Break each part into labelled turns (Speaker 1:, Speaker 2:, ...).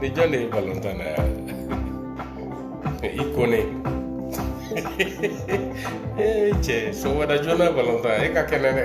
Speaker 1: Nijale Valentana i kone cɛ so wɛrɛ joona balontan e ka kɛnɛ dɛ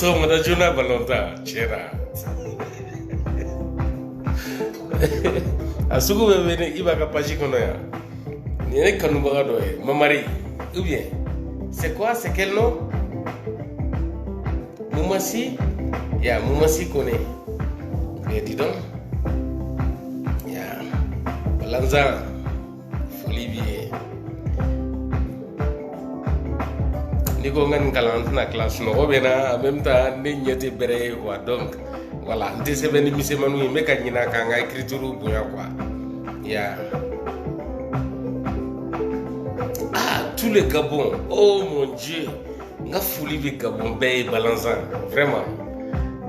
Speaker 1: sɔgɔmada joona balontan cɛ a sugu bɛɛ bɛ ne Iba ka page kɔnɔ yan nin ye ne kanubaga dɔ ye mamari ou bien c'est quoi c'est quel nom Mumasi, ya Mumasi kone. Eh dis donc. Balanzan, foli b'i ye. N'i ko n ka nin kalan n tɛna tila sunɔgɔ bɛ n na en même temps ne ɲɛ tɛ bɛrɛ ye quoi donc voilà n tɛ sɛbɛnni misɛnmaninw ye n bɛ ka ɲinɛ ka n ka écriture bonya quoi. Ya. Ah, tout le Gabon, oh mon Dieu! N ka foli bɛ Gabon bɛɛ ye balanzan vraiment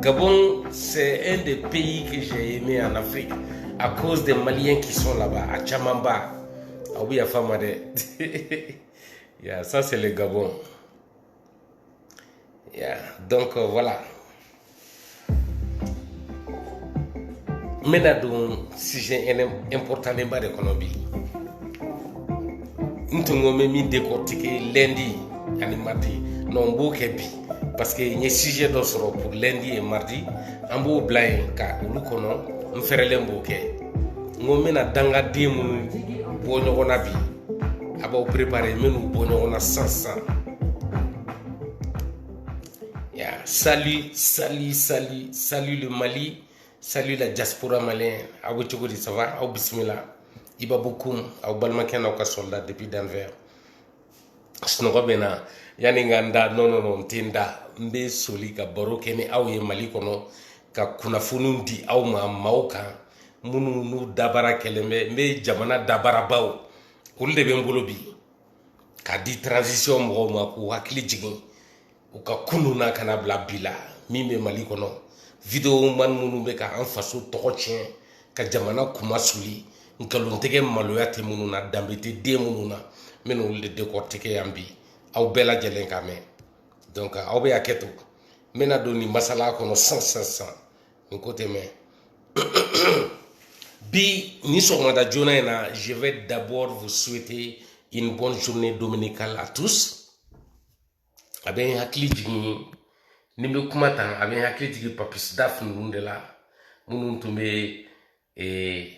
Speaker 1: Gabon c'est un des pays que j'ai aimé en Afrique à cause des Maliens qui sont là-bas a camanba aw bɛ yafa n ma dɛ yeah, ça c'est le Gabon yeah, donc euh, voilà n bɛna don sujet importanlenba de kɔnɔ bi n tun ko n bɛ min décortiquer lundi ani mardi non n b'o kɛ bi parce que n ye sujet dɔ sɔrɔ pour lundi et mardi an b'o bila yen ka olu kɔnɔ n fɛrɛlen b'o kɛ n ko n bɛna dangaden minnu bɔ ɲɔgɔn na bi a b'aw préparer n bɛn'u bɔ ɲɔgɔn na sisan sisan Yeah. Salut, salut, salut, salut le Mali, salut la diaspora malienne. Aw bɛ cogo di ça va aw bisimila Iba Bokoum aw balimakɛ n'aw ka soldat depuis Denver. Sunɔgɔ bɛ n na yanni n ka n da non non non n tɛ n da n bɛ soli ka baro kɛ ni aw ye Mali kɔnɔ ka kunnafoniw di aw ma maaw kan minnu n'u dabara kɛlen bɛ n bɛ jamana dabarabaw olu de bɛ n bolo bi k'a di transition mɔgɔw ma k'u hakili jigin u ka kunun na kana bila bi la min bɛ mali kɔnɔ vidéoman minnu bɛ ka an faso tɔgɔ tiɲɛ ka jamana kuma suli nkalontigɛ maloya tɛ minnu na danbe tɛ den minnu na n bɛna olu de décortiquer yan bi aw bɛɛ lajɛlen ka mɛn donc aw bɛ hakɛ to n bɛna don nin masala kɔnɔ sisan sisan sisan n ko tɛ mɛn bi nin sɔgɔmada joona in na je vais d'abord vous souhaiter une bonne journée dominicale à tous a bɛ n hakili jigin ni n bɛ kuma tan a bɛ n hakili jigin papis daf ninnu de la minnu tun bɛ ee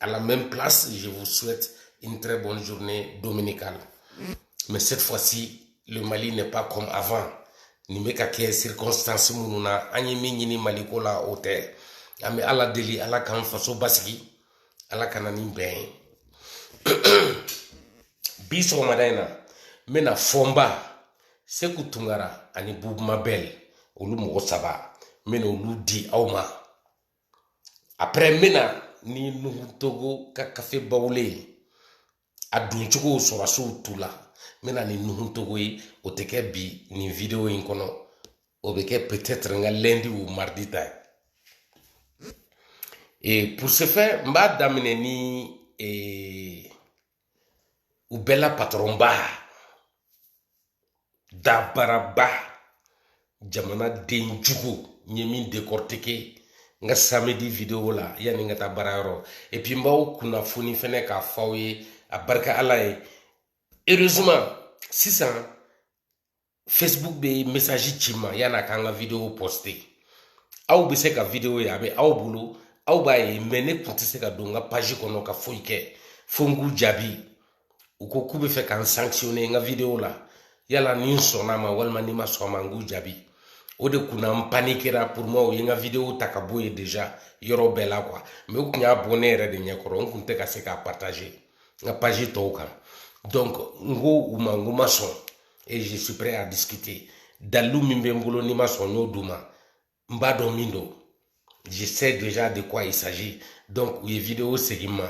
Speaker 1: à la même place. Je vous souhaite une très bonne journée dominicale. Mais cette fois-ci, le Mali n'est pas comme avant. Nin bɛ ka kɛ circonstance minnu na an ye min ɲini maliko la o tɛ an bɛ ala deli ala k'an faso basigi ala ka na ni bɛn ye bi sɔgɔmada in na n bɛna fɔnba seku tunkara ani bubu mabɛl olu mɔgɔ saba n bɛna olu di aw ma après n bɛ na ni nuhu togo ka kafe bawule ye a doncogo sɔrɔsiw tu la n bɛ na ni nuhu togo ye o tɛ kɛ bi nin video in kɔnɔ o bɛ kɛ peut-être n ka lundi ou mardi ta ye et pour ce faire n b'a daminɛ ni ee u bɛɛ la patɔrɔnba dabaraba jamanaden jugu n ye min décortiquer n ka samedi video la yanni n ka taa baarayɔrɔ et puis n b'aw kunnafoni fɛnɛ k'a fɔ aw ye a barika ala ye heureusement sisan facebook bɛ message ci ma yan'a k'an ka video poster aw bɛ se ka video ye a bɛ aw bolo aw b'a ye mais ne tun tɛ se ka don n ka page kɔnɔ ka foyi kɛ fo n k'u jaabi u ko k'u bɛ fɛ ka n sanctionner n ka video la yala ni n sɔnna ma walima ni ma sɔn ma n k'u jaabi o de kunna n panikera pour moi u ye n ka video ta ka bɔ yen déjà yɔrɔ bɛɛ la quoi mais u tun y'a bɔ ne yɛrɛ de ɲɛkɔrɔ n tun tɛ ka se k'a partager n ka page tɔw kan donc n ko u ma n ko ma sɔn et je suis prêt à discuter dalilu min bɛ n bolo ni n ma sɔn n y'o d'u ma n b'a dɔn min don je sais déjà de quoi il s'agit donc u ye video segin n ma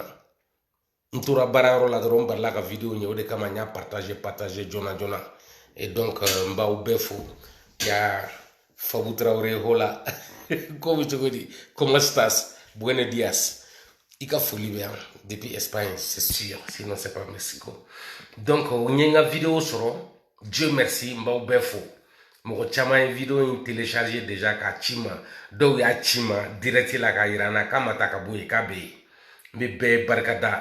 Speaker 1: n tora baarayɔrɔ la dɔrɔn n balila ka video ye o de kama n y'a partager partager joona joona et donc euh, n b'aw bɛɛ fo ya fabu tarawele hola ko bɛ cogo di cómo estás buenos días i ka foli bɛ yan depuis espagne c'est sûr sinon c'est pas mexico donc u ye n ka video sɔrɔ dieu merci n b'aw bɛɛ fo mɔgɔ caman ye video in télécharger déjà k'a ci ma dɔw y'a ci ma direct la k'a yira n na k'a ma ta ka bɔ yen k'a bɛ yen n bɛ bɛɛ barika da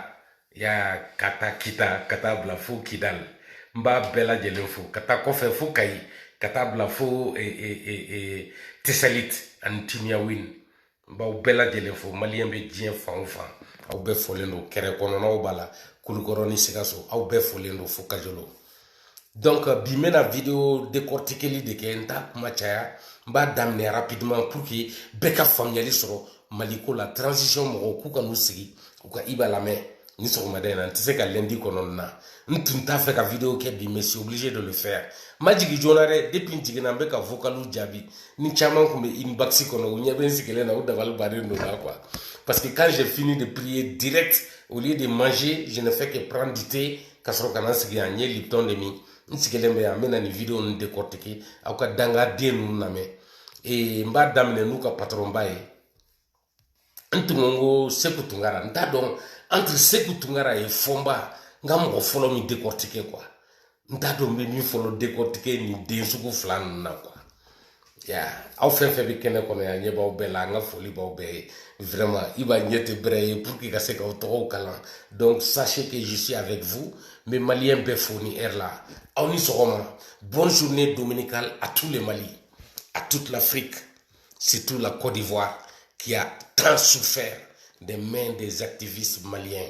Speaker 1: ya ka taa kita ka taa bila fo kidali n b'a bɛɛ lajɛlen fo ka taa kɔfɛ fo kayi ka taa bila fo e, e, e, tesalit ani timiyawin n b'aw bɛɛ lajɛlen fo maliyɛn bɛ diɲɛ fan o fan aw bɛɛ fɔlen don kɛrɛ kɔnɔnaw b'a la kulukɔrɔ ni sikaso aw bɛɛ fɔlen don fo kajolo donc euh, bi n bɛna video décortiqueli de kɛ n t'a kuma caya n b'a daminɛ rapidement pour que bɛɛ ka faamuyali sɔrɔ mali ko la transition mɔgɔw k'u ka n'u sigi u ka iba lamɛn nin sɔgɔmada in na n tɛ se ka lundi kɔnɔ na n tun t'a fɛ ka video kɛ bi mais je suis obligé de le faire n ma jigin joona dɛ depuis n jiginna n bɛ ka vocaliw jaabi ni caman tun bɛ inbox kɔnɔ u ɲɛ bɛ n sigilen na u dabali bannen don na quoi parce que quand j'ai fini de prier direct au lieu de manger je ne fais que prendre du thé ka sɔrɔ ka na n sigi yan n ye lipton de min n sigilen bɛ yan n bɛna nin video ninnu décortiquer aw ka dangaden ninnu lamɛn ee n b'a daminɛ n'u ka patɔrɔnba ye n tun ko n ko seku tunkara n t'a dɔn entre seku tunkara et fɔnba n ka mɔgɔ fɔlɔ min décortiquer quoi n t'a dɔn n bɛ min fɔlɔ décortiquer nin den sugu fila ninnu na quoi ya aw fɛn fɛn bɛ kɛnɛ kɔnɔ yan ɲɛ b'aw bɛɛ la n ka foli b'aw bɛɛ ye vraiment iba ɲɛ tɛ bɛrɛ ye pour que ka se k'aw tɔgɔw kalan donc sachez que je suis avec vous n bɛ maliyɛn bɛɛ fo nin heure la aw ni sɔgɔma bonne journée dominicale à tous les Mali à toute l'Afrique surtout la Côte d'Ivoire qui a tant souffert des mains des activistes maliens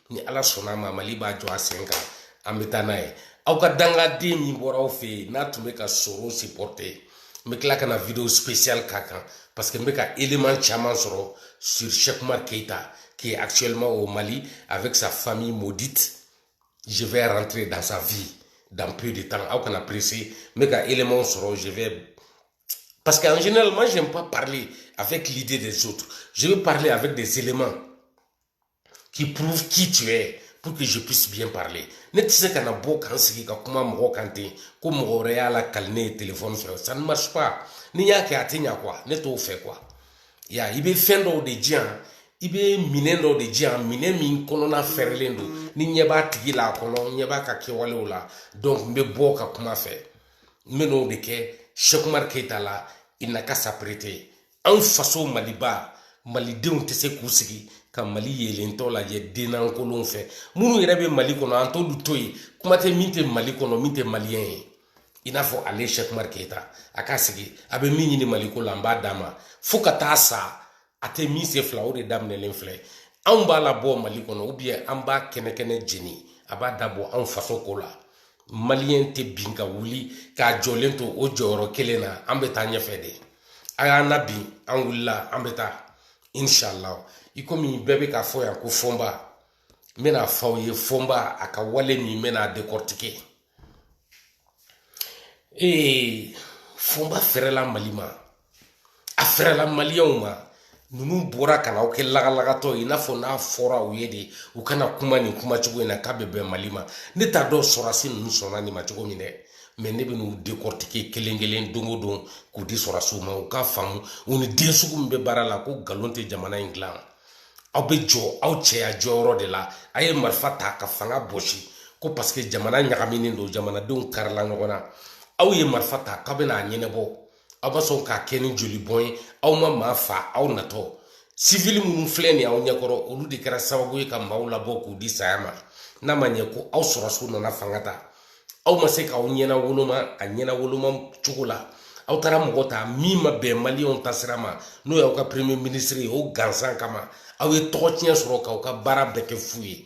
Speaker 1: ni ala sɔnna a ma mali b'a jɔ a sen kan an bɛ taa n'a ye aw ka dangaden min bɔra aw fɛ yen n'a tun bɛ ka Soro supporter n bɛ tila ka na vidéo spéciale k'a kan parce que n bɛ ka élément caman sɔrɔ sur Cheikh Oumar Keita qui est actuellement au Mali avec sa famille maudite je vais rentrer dans sa vie dans peu de temps aw kana pressé n bɛ ka élément sɔrɔ je vais parce qu'en général moi j'aime pas parler avec l'idée des autres je veux parler avec des éléments qui prouvent qui tu es pour que je puisse bien parler ne tɛ se ka na bɔ ka n sigi ka kuma mɔgɔ kan ten ko mɔgɔ wɛrɛ y'a lakali ne ye telefɔni fɛ ça ne marche pas n'i y'a kɛ a tɛ ɲa quoi ne t'o fɛ quoi ya i bɛ fɛn dɔw de di yan i bɛ minɛn dɔw de di yan minɛn min kɔnɔna fɛrɛlen don ni ɲɛ b'a tigi la a kɔnɔ ɲɛ b'a ka kɛwalew la donc n bɛ bɔ ka kuma fɛ n bɛ n'o de kɛ Cheikh Oumar Keita la il n'a qu'à s'apprêter anw faso maliba malidenw tɛ se k'u sigi ka mali yelentɔ lajɛ dennankolonw fɛ minnu yɛrɛ bɛ mali kɔnɔ an t'olu to yen kuma tɛ min tɛ mali kɔnɔ min tɛ maliyɛn ye i n'a fɔ ale Cheikh Oumar Keita a k'a sigi a bɛ min ɲini maliko la an b'a d'a ma fo ka taa sa a tɛ min se fila o de daminɛlen filɛ anw b'a labɔ mali kɔnɔ ou bien an b'a kɛnɛ kɛnɛ jeni a b'a da bɔ anw faso ko la maliyɛn tɛ bin ka wuli k'a jɔlen to o jɔyɔrɔ kelen na an bɛ taa ɲɛfɛ de a y'an nabin an wulila an bɛ taa inshallah i komi bɛɛ bɛ k'a fɔ yan ko fɔnba n bɛn'a fɔ aw ye fɔnba a ka wale min n bɛna décortiquer ee fɔnba fɛrɛla mali ma a fɛrɛla maliyɛnw ma ninnu bɔra ka na aw kɛ lagalagatɔ ye i n'a fɔ n'a fɔra u ye de u kana kuma nin kuma cogo in na k'a bɛ bɛn mali ma ne t'a dɔn sɔrɔdasi ninnu sɔnna nin ma cogo min dɛ mais ne bɛ n'u décortiquer kelen kelen don o don k'u di sɔrɔdasiw ma u k'a faamu u ni den sugu min bɛ baara la ko nkalon tɛ jamana in dilan aw bɛ jɔ aw cɛya jɔyɔrɔ de la a ye marifa ta ka fanga bɔsi ko parce que jamana ɲagaminen don jamanadenw karila ɲɔgɔn na aw ye marifa ta k'aw bɛna a ɲɛnabɔ aw ma sɔn k'a kɛ ni joli bɔn ye aw ma maa fa aw natɔ sivili minnu filɛ nin aw ɲɛkɔrɔ olu de kɛra sababu ye ka maaw labɔ k'u di saya ma n'a ma ɲɛ ko aw sɔrɔdasiw nana fanga ta aw ma se k'aw ɲɛna woloma a ɲɛna woloma cogo la aw taara mɔgɔ ta min ma bɛn maliyɛnw ta sira ma n'o y'aw ka premier ministre ye o gansan kama aw ye tɔgɔ tiɲɛ sɔrɔ k'aw ka baara bɛɛ kɛ fu ye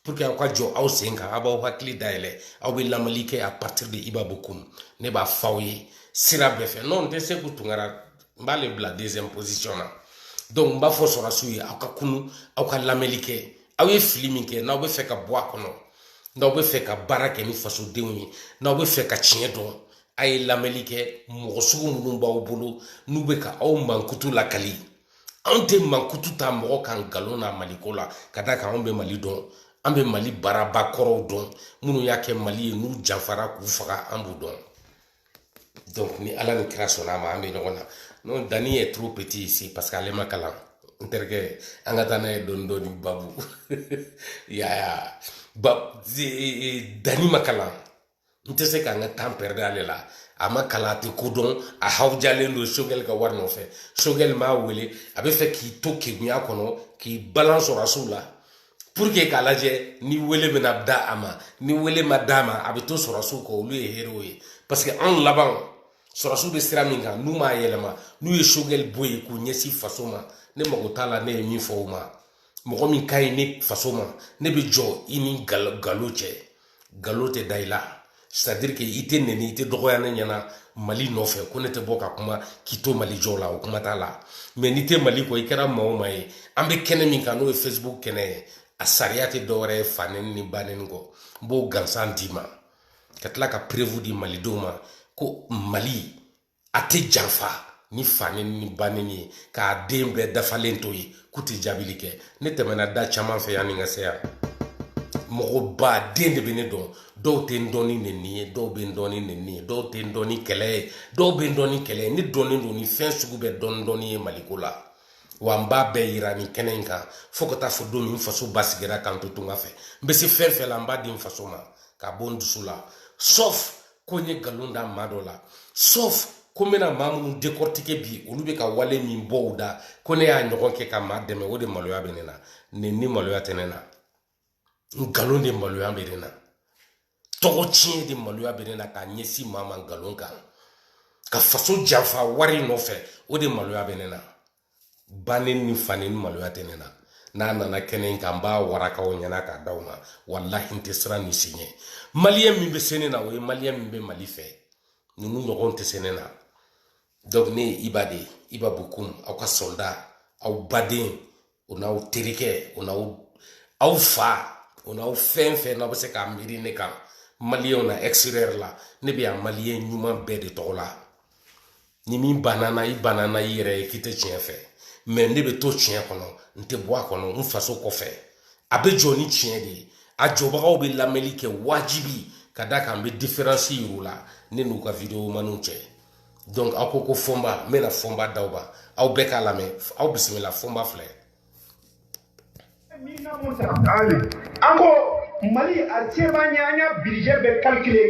Speaker 1: pour que aw ka jɔ aw sen kan aw b'aw hakili dayɛlɛ aw bɛ lamɛnli kɛ à partir de iba bokum ne b'a fɔ aw ye sira bɛɛ fɛ n'o tɛ seku tunkara n b'ale bila deuxième position na donc n b'a fɔ sɔrɔdasiw ye aw ka kunun aw ka lamɛnli kɛ aw ye fili min kɛ n'aw bɛ fɛ ka bɔ a kɔnɔ n'aw bɛ fɛ ka baara kɛ ni fasodenw ye n'aw bɛ fɛ ka tiɲɛ dɔn a ye lamɛnli kɛ mɔgɔ sugu minnu b'aw bolo n'u bɛ ka aw mankutu lakali anw tɛ mankutu ta mɔgɔ kan nkalon na maliko la ka d'a kan anw bɛ mali dɔn an bɛ mali baarabaa kɔrɔw dɔn minnu y'a kɛ mali ye n'u janfara k'u faga an b'u dɔn donc ni ala ni kira sɔnna a ma an bɛ ɲɔgɔn na non dani est trop petit ici parce que ale ma kalan n terikɛ an ka taa n'a ye dɔɔni dɔɔni babu yaya ba dani ma kalan n tɛ se ka n ka temps perdre ale la a ma kalan a tɛ ko dɔn a hawujalen don sogɛli ka wari nɔfɛ sogɛli m'a wele a bɛ fɛ k'i to kegunya kɔnɔ k'i balan sɔrɔdasiw la pour que k'a lajɛ ni wele bɛna da a ma ni wele ma d'a ma a bɛ to sɔrɔdasiw kɔ olu ye héros ye parce que anw laban sɔrɔdasiw bɛ sira min kan n'u m'a yɛlɛma n'u ye sogɛli bɔ yen k'u ɲɛsin faso ma ne mago t'a la ne ye min fɔ o ma mɔgɔ min ka ɲi ne faso ma ne bɛ jɔ i ni nkalon cɛ nkalon tɛ da i la c'est à dire que i tɛ nɛni i tɛ dɔgɔya ne ɲɛna mali nɔfɛ ko ne tɛ bɔ ka kuma k'i to mali jɔ la o kuma t'a la mais n'i tɛ mali kɔ i kɛra maa o maa ye an bɛ kɛnɛ min kan n'o ye facebook kɛnɛ ye a sariya tɛ dɔwɛrɛ ye fanɛni ni banɛni kɔ n b'o gansan d'i ma ka tila ka preuve di malidenw ma ko mali a tɛ janfa ni fanɛni ni banɛni ye k'a den bɛɛ dafalen to yen k'u tɛ jaabili kɛ ne tɛmɛna da caman fɛ yan ni ka se yan mɔgɔ ba den de bɛ ne dɔn dɔw tɛ n dɔn ni nɛni ye dɔw bɛ n dɔn ni nɛni ye dɔw tɛ n dɔn ni kɛlɛ ye dɔw bɛ n dɔn ni kɛlɛ ye ne dɔnnen don ni fɛn sugu bɛɛ dɔɔni dɔɔni ye maliko la wa n b'a bɛɛ yira nin kɛnɛ in kan fo ka taa fo don min n faso basigira k'an to tunga fɛ n bɛ se fɛn fɛn la n b'a di n faso ma k'a bɔ n dusu la sauf ko n ye nkalon da maa dɔ la sauf ko n bɛna maa minnu décortiquer bi olu bɛ ka wale min bɔ u da ko ne y'a ɲɔgɔn kɛ ka maa dɛmɛ o de maloya bɛ ne na neni maloya tɛ ne na nkalon de maloya bɛ ne na tɔgɔ tiɲɛ de maloya bɛ ne na k'a ɲɛsin maa ma nkalon kan ka faso janfa wari nɔfɛ o de maloya bɛ ne na ba neni fa neni maloya tɛ ne na n'a nana kɛnɛ in kan n b'a waraka aw ɲɛna k'a d'aw ma walahi n tɛ siran ni si ɲɛ maliyɛn min bɛ se ne na o ye maliyɛn min bɛ mali fɛ ninnu ɲɔgɔn tɛ se ne na donc ne ye iba de ye iba bokum aw ka sɔlida aw baden o n'aw terikɛ o n'aw aw fa o n'aw fɛn fɛn n'aw bɛ se k'a miiri ne kan maliyɛnw na extérieur la ne bɛ yan maliyɛn ɲuman bɛɛ de tɔgɔ la ni min banna i banna i yɛrɛ ye k'i tɛ tiɲɛ fɛ mɛ ne bɛ to tiɲɛ kɔnɔ n tɛ bɔ a kɔnɔ n faso kɔfɛ a bɛ jɔ ni tiɲɛ de ye a jɔbagaw bɛ lamɛnli kɛ wajibi ka da kan n bɛ diferansi yir'u la ne n'u ka videomaniw cɛ donc aw ko ko fɔnba n bɛna fɔnba d'aw ma aw bɛɛ k'a lamɛn aw bisimila fɔnba filɛ
Speaker 2: an ko mali a se b'an ye an y'a budget bɛɛ kalikile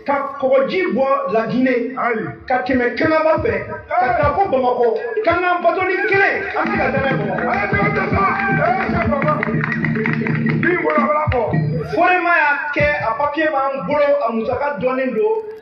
Speaker 2: ka kɔgɔji bɔ lagine ka tɛmɛ kangaba fɛ ka taa fo bamakɔ k'an ka bato ni kelen an bɛ se ka tɛmɛ bamakɔ forema y'a kɛ a papiye b'an bolo a musaka dɔnnen don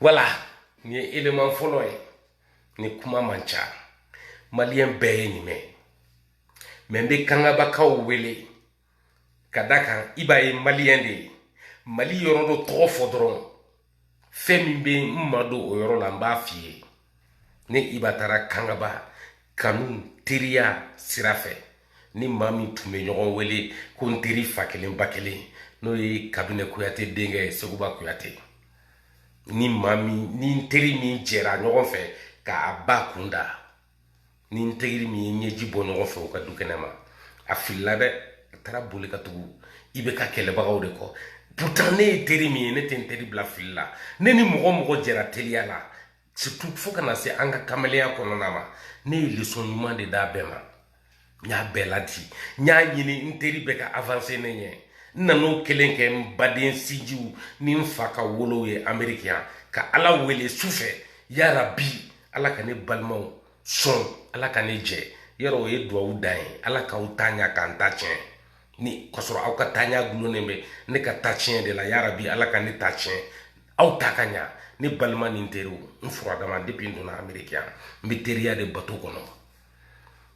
Speaker 1: wala nin ye eleman fɔlɔ ye nin kuma man ca maliyɛn bɛɛ ye nin mɛn mɛ n bɛ kangabakaw wele ka da kan i b'a ye maliyɛn de ye mali yɔrɔ dɔ tɔgɔ fɔ dɔrɔn fɛn min bɛ n ma don o yɔrɔ la n b'a f'i ye ne iba taara kangaba kanu teriya sira fɛ ni maa min tun bɛ ɲɔgɔn wele ko n teri fa kelen ba kelen n'o ye kabinɛ kuyate denkɛ ye seguba kuyate ni maa min ni n teri min jɛra ɲɔgɔn fɛ k'a ba kunda ni n teri min ye ɲɛji bɔ ɲɔgɔn fɛ u ka du kɛnɛ ma a filila dɛ a taara boli ka tugu iba ka kɛlɛbagaw de kɔ pourtant ne ye teri min ye ne tɛ n teri bila fili la ne ni mɔgɔ mɔgɔ jɛra teriya la surtout fo ka na se an ka kamalenya kɔnɔna ma ne ye lesɔn ɲuman de d'a bɛɛ ma n y'a bɛɛ ladi n y'a ɲini n teri bɛɛ ka avanse ne ɲɛ n nan'o kelen kɛ n baden sinjiw ni n fa ka wolow ye ameriki yan ka ala wele su fɛ yarabi ala ka ne balimaw sɔn ala ka ne jɛ yɔrɔ o ye duwawu dan ye ala k'aw ta ɲa ka n ta tiɲɛ ni k'a sɔrɔ aw ka ta ɲa dulonnen bɛ ne ka ta tiɲɛ de la yarabi ala ka ne ta tiɲɛ aw ta ka ɲa ne balima ni n teriw n furadama depi n donna ameriki yan n bɛ teriya de bato kɔnɔ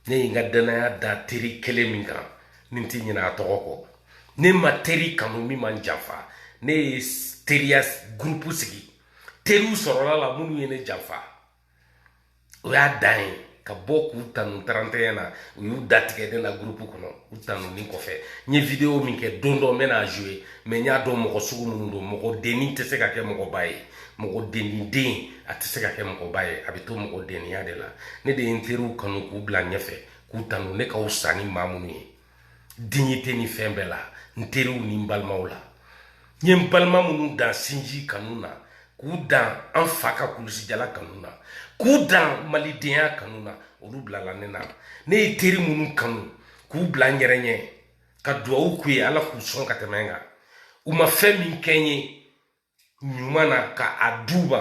Speaker 1: ne ye n ka dannaya da teri kelen min kan ni n ti ɲinɛ a tɔgɔ kɔ ne ma teri kanu min man janfa ne ye teriya gurupu sigi teriw sɔrɔla la minnu ye ne janfa o y'a dan ye ka bɔ k'u tanu 31 na u y'u datigɛ ne la gurupu kɔnɔ u tanuni kɔfɛ n ye videwo min kɛ don dɔ n bɛna a joye mɛ n y'a dɔn mɔgɔ sugu minnu don mɔgɔ denni tɛ se ka kɛ mɔgɔba ye mɔgɔ denni den a tɛ se ka kɛ mɔgɔba ye a bɛ to mɔgɔ denniya de la ne de ye n teriw kanu k'u bila ɲɛfɛ k'u tanu ne ka wusa ni maa minnu ye dignité ni fɛn bɛɛ la n teriw ni n balimaw la n ye n balima minnu dan sinji kanu na k'u dan an fa ka kulusijala kanu na k'u dan malidenya kanu na olu bilala ne na ne ye teri minnu kanu k'u bila n yɛrɛ ɲɛ ka duwawu k'u ye ala k'u sɔn ka tɛmɛ n kan u ma fɛn min kɛ n ye ɲuman na ka a d'u ma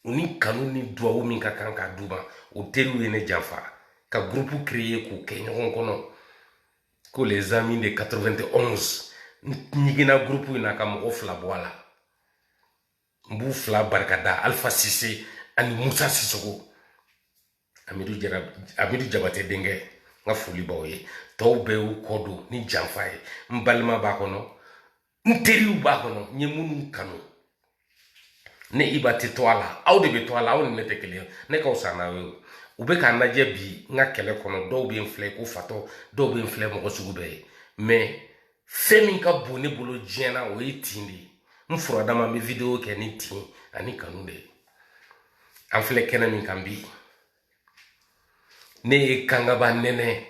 Speaker 1: u ni kanu ni duwawu min ka kan k'a d'u ma o teriw ye ne janfa ka gurupu kreye k'u kɛ ɲɔgɔn kɔnɔ ko les amis de 91 n ɲiginna gurupu in na ka mɔgɔ fila bɔ a la n b'u fila barikada alpha sise ani musa sisogo amidu jabate denkɛ n ka foli b'aw ye tɔw bɛɛ y'u kɔ don ni janfa ye n balima b'a kɔnɔ n teriw b'a kɔnɔ n ye minnu kanu ne iba tɛ to a la aw de bɛ to a la aw ni ne tɛ kelen ne ka wusa n'aw ye u bɛ ka n lajɛ bi n ka kɛlɛ kɔnɔ dɔw bɛ n filɛ ko fatɔ dɔw bɛ n filɛ mɔgɔ sugu bɛɛ ye mɛ fɛn min ka bon ne bolo diɲɛ na o ye tin de ye n furadama n bɛ videwo kɛ ni tin ani kanu de ye an filɛ kɛnɛ min kan bi ne ye kangaba nɛnɛ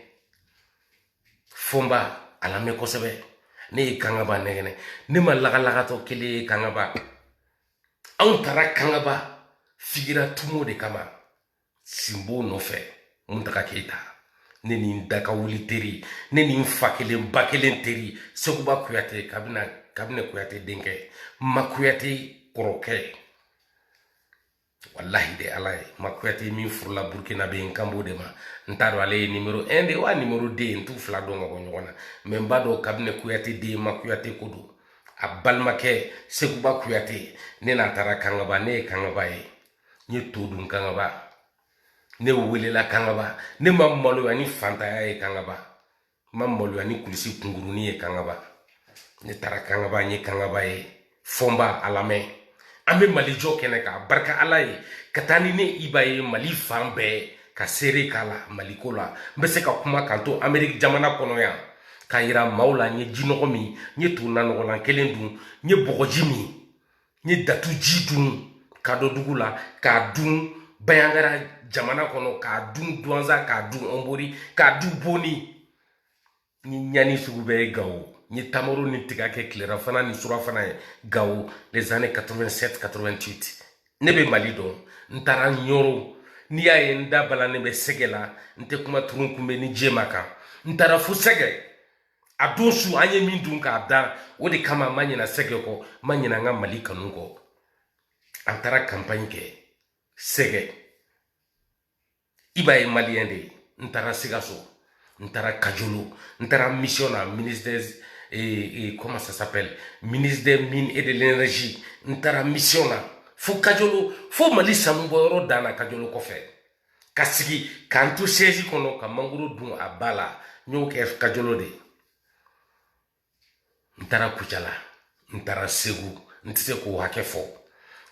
Speaker 1: fɔnba a lamɛn kosɛbɛ ne ye kangaba nɛgɛnɛ ne ma lagalagatɔ kelen ye kangaba anw taara kangaba figira tumo de kama sinbo nɔfɛ muntaga keyita ne ni n daka wuli teri ne ni n fa kelen ba kelen teri seguba kuyate kabinɛ kuyate denkɛ ma kuyate kɔrɔkɛ walahi de ala ye ma kuyate min furula burkina ben kanbo de ma n t'a dɔn ale ye nimero 1 de wa nimero 2 n t'u fila dɔn ka bɔ ɲɔgɔn na mɛ n b'a dɔn kabinɛ kuyate den ma kuyate ko don a balimakɛ seguba kuyate ne n'a taara kangaba ne ye kangaba ye n ye to dun kangaba ne welela kangaba ne ma maloya ni fantanya ye kangaba n ma maloya ni kulisi kunkuruni ye kangaba ne taara kangaba n ye kangaba ye fɔnba a lamɛn an bɛ mali jɔ kɛnɛ kan barika ala ye ka taa ni ne iba ye mali fan bɛɛ ka seere k'a la maliko la n bɛ se ka kuma kan to ameriki jamana kɔnɔ yan k'a yira maaw la n ye jinɔgɔ min n ye to nanɔgɔlan kelen dun n ye bɔgɔji min n ye datu ji dun kadɔdugu la k'a dun bayangara jamana kɔnɔ k'a dun duwanza k'a dun ɔnbori k'a dun boni n ye ɲani sugu bɛɛ ye gawo n ye tamaro ni tiga kɛ tilera fana ni sura fana ye gawo les années 87 88 ne bɛ mali dɔn n taara ɲɔro n'i y'a ye n da balannen bɛ sɛgɛ la n tɛ kuma turunkunbɛ ni jema kan n taara fo sɛgɛ a don su an ye min dun k'a dan o de kama n ma ɲina sɛgɛ kɔ n ma ɲina n ka mali kanu kɔ an taara kanpaɲi kɛ sɛgɛ i b'a ye maliyɛn de n taara sikaso n taara kajolo n taara mission na ministre des eh, eh, comment ça s'appelle ministre des mines et de l'énergie n taara mission na fo kajolo fo mali sanubɔyɔrɔ dan na kajolo kɔfɛ ka sigi ka n to sɛzi kɔnɔ ka mangoro dun a ba la n y'o kɛ kajolo de n taara kucala n taara segu n tɛ se k'o hakɛ fɔ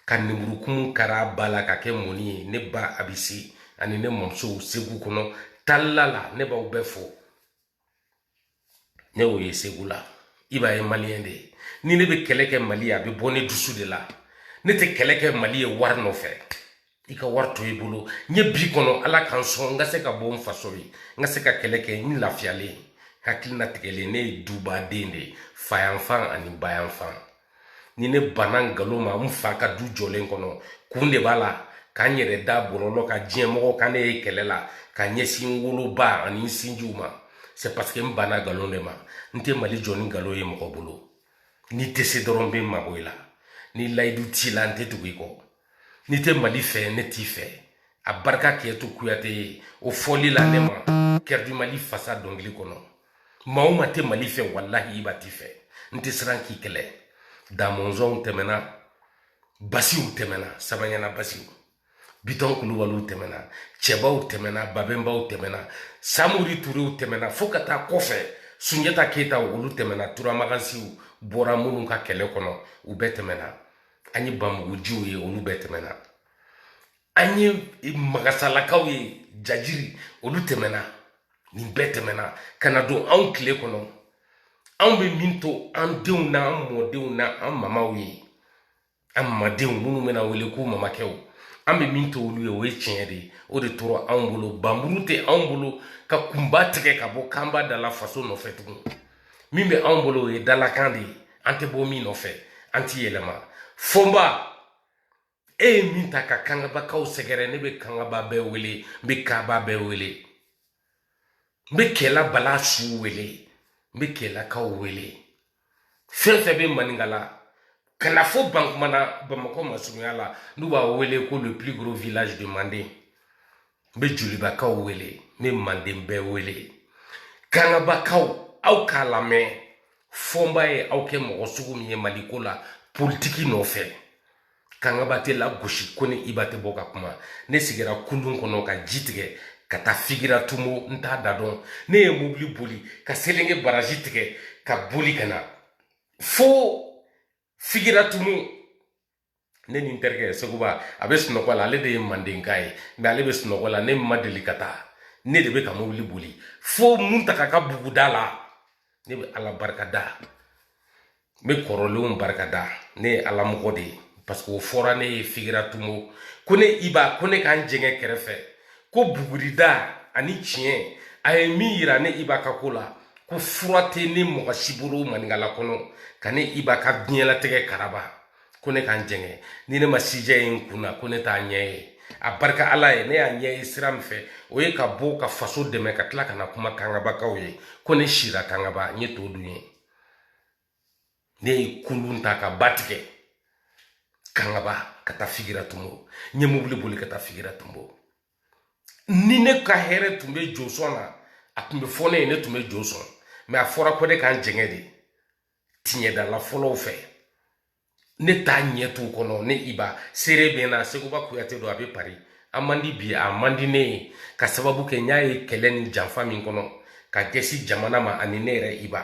Speaker 1: ka lemurukumu kari a ba la ka kɛ mɔni ye ne ba abisi ani ne mɔmusow segu kɔnɔ talila la ne b'aw bɛɛ fo ne y'o ye segu la i b'a ye maliyɛn de ni ne bɛ kɛlɛ kɛ mali ye a bɛ bɔ ne dusu de la ne tɛ kɛlɛ kɛ mali ye wari nɔfɛ i ka wari to i bolo n ye bi kɔnɔ ala ka n sɔn n ka se ka bɔ n faso ye n ka se ka kɛlɛ kɛ n lafiyalen hakili latigɛlen ne ye dubaden de fayanfan ani bayanfan ni ne banna nkalon ma n fa ka du jɔlen kɔnɔ kun de b'a la ka n yɛrɛ da bɔlɔlɔ ka diɲɛ mɔgɔw ka ne ye kɛlɛ la ka ɲɛsin n woloba ani n sinjiw ma c'est parce que n banna nkalon de ma n tɛ mali jɔ ni nkalon ye mɔgɔ bolo n'i tɛ se dɔrɔn n bɛ n mabɔ i la ni layidu t'i la n tɛ tugu i kɔ n'i tɛ mali fɛ ne t'i fɛ a barika kɛtu kuyate ye o fɔli la ne ma kɛrɛdi mali fasa dɔnkili kɔnɔ maa o maa tɛ mali fɛ walahi i ba t'i fɛ n tɛ siran k'i kɛlɛ damɔnzɔnw tɛmɛna basiw tɛmɛna sabanyana basiw bitɔn kulubaliw tɛmɛna cɛbaw tɛmɛna babɛnbaw tɛmɛna samori turew tɛmɛna fo ka taa kɔfɛ sunjata keyita olu tɛmɛna turamagansiw bɔra minnu ka kɛlɛ kɔnɔ u bɛɛ tɛmɛna an ye bamugujiw ye olu bɛɛ tɛmɛna an ye magasalakaw ye jajiri olu tɛmɛna nin bɛɛ tɛmɛna ka na don anw tile kɔnɔ anw bɛ min to an denw na an mɔdenw na an mamaw ye an mamadenw minnu bɛna wele ko mamakɛw an bɛ min to olu ye o ye tiɲɛ de o de tora anw bolo banmuru tɛ anw bolo ka kunba tigɛ ka bɔ kanba da la faso nɔfɛ tugun min bɛ anw bolo o ye dalakan de ye an tɛ bɔ min nɔfɛ an tɛ yɛlɛma fonba e ye min ta ka kangabakaw sɛgɛrɛ ne bɛ kangaba bɛɛ wele n bɛ kaba bɛɛ wele n bɛ kɛla bala su wele n bɛ kɛlakaw wele fɛn fɛn bɛ maninkala ka na fo bankumana bamakɔ masurunya la n'u b'a wele ko le plus gros village de manden n bɛ jolibakaw wele n bɛ manden bɛɛ wele kangabakaw aw k'a lamɛn fonba ye aw kɛ mɔgɔ sugu min ye maliko la politiki nɔfɛ kangaba tɛ lagosi ko ni iba tɛ bɔ ka kuma ne sigira kulun kɔnɔ ka ji tigɛ ka taa figira tumo n t'a da dɔn ne ye mobili boli ka selenge baraji tigɛ ka boli ka na fo figira tumo ne ni n terikɛ seguba a bɛ sunɔgɔ la ale de ye mandenka ye mais ale bɛ sunɔgɔ la ne ma deli ka taa ne de bɛ ka mobili boli fo muntaka ka buguda la ne bɛ ala barika da n bɛ kɔrɔlenw barika da ne ye ala mɔgɔ de ye parce que o fɔra ne ye figira tumo ko ne iba ko ne ka n jɛngɛ kɛrɛfɛ ko bugurida ani tiɲɛ a ye min yira ne iba ka ko la ko fura tɛ ne mɔgɔ si bolo maninkala kɔnɔ ka ne iba ka diɲɛlatigɛ karaba ko ne ka n jɛngɛ ni ne ma sijɛ ye n kun na ko ne t'a ɲɛ ye a barika ala ye ne y'a ɲɛ ye sira min fɛ o ye ka bɔ ka faso dɛmɛ ka tila ka na kuma kangabakaw ye ko ne sira kangaba n ye to dun ye ne ye kulun ta ka ba tigɛ kangaba ka taa figira tumbo n ye mobili boli ka taa figira tumbo ni ne ka hɛrɛ tun bɛ josɔn na a tun bɛ fɔ ne ye ne tun bɛ jo sɔn mais a fɔra ko ne ka n jɛngɛ de tiɲɛdala fɔlɔw fɛ ne t'a ɲɛ tu kɔnɔ ne iba seere bɛ na seguba kuyate don a bɛ pari a man di bi a man di ne ye ka sababu kɛ n y'a ye kɛlɛ ni janfa min kɔnɔ ka gɛsi jamana ma ani ne yɛrɛ iba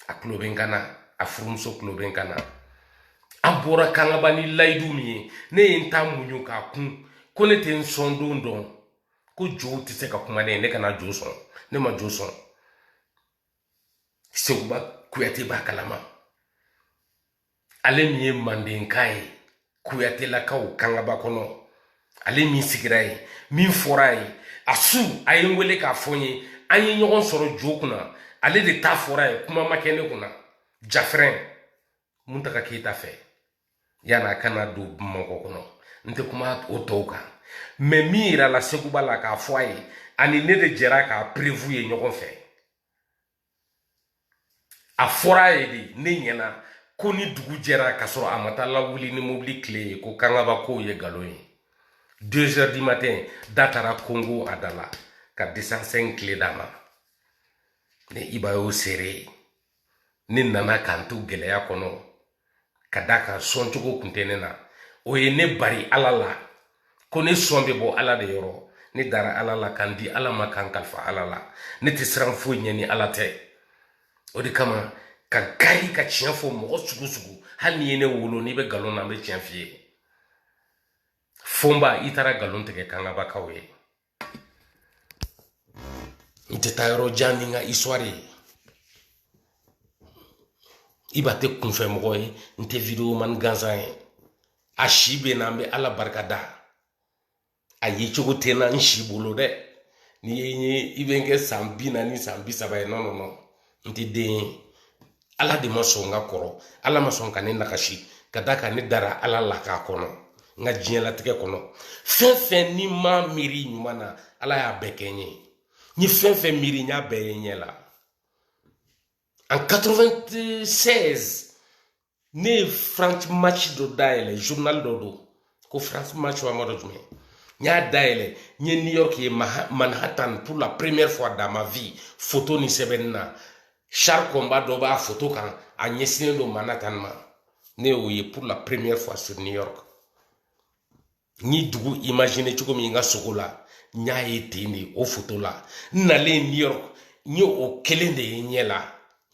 Speaker 1: a tulo bɛ n kan na a furumuso tulo bɛ n kan na an bɔra kangaba ni layidu min ye ne ye n ta muɲu k'a kun ko ne tɛ n sɔn don dɔn ko jow tɛ se ka kuma ne ye ne kana jo sɔn ne ma jo sɔn seguba kuyate b'a kalama ale min ye mandenka ye kuyatelakaw kangaba kɔnɔ ale min sigira ye min fɔra ye a su a ye n wele k'a fɔ n ye an ye ɲɔgɔn sɔrɔ jo kunna ale de ta fɔra ye kuma ma kɛ ne kunna jafrɛn muntaka keyita fɛ yani a kana don bamakɔ kɔnɔ n tɛ kuma o tɔw kan mais min yirala seguba la k'a fɔ a ye ani ne de jɛra k'a preuve ye ɲɔgɔn fɛ a fɔra a ye de ne ɲɛna ko ni dugu jɛra ka sɔrɔ a ma taa lawuli ni mobili kile ye ko kangaba kow ye nkalon ye deux heures du matin da taara kɔnkɔn a da la ka deux cent cinq kile d'a ma ne iba y'o seere ye ne nana ka n to gɛlɛya kɔnɔ ka da kan sɔn cogo kun tɛ ne na o ye ne bari ala la ko ne sɔn bɛ bɔ ala de yɔrɔ ne dara ala la ka n di ala ma ka n kalifa ala la ne tɛ siran foyi ɲɛ ni ala tɛ o de kama ka gari ka tiɲɛ fɔ mɔgɔ sugu sugu hali n'i ye ne wolo n'i bɛ nkalon na n bɛ tiɲɛ f'i ye fonba i taara nkalon tigɛ kangabakaw ye n tɛ taa yɔrɔ jan ni n ka histoire ye iba tɛ kunfɛ mɔgɔ ye n tɛ video man gansan ye a si bɛ n na n bɛ ala barika da a ye cogo tɛ na n si bolo dɛ n'i ye n ye i bɛ n kɛ san bi naani san bi saba ye non non non n tɛ den ye ala de ma sɔn n ka kɔrɔ ala ma sɔn ka ne nagasi ka da kan ne dara ala la k'a kɔnɔ n ka diɲɛlatigɛ kɔnɔ fɛn fɛn ni ma miiri ɲuman na ala y'a bɛɛ kɛ n ye n ye fɛn fɛn miiri n y'a bɛɛ ye n ɲɛ la en 96 ne ye france match dɔ dayɛlɛ journal dɔ don ko france match wa n m'a dɔn jumɛn n y'a dayɛlɛ n ye new york ye manhattan pour la première fois dans ma vie photo ni sɛbɛnni na char combat dɔ b'a foto kan a ɲɛsinnen don manhattan ma ne y'o ye pour la première fois sur new york n ye dugu imaginer cogo min n ka sogo la n y'a ye ten de o foto la n nalen new york n ye o kelen de ye n ɲɛ la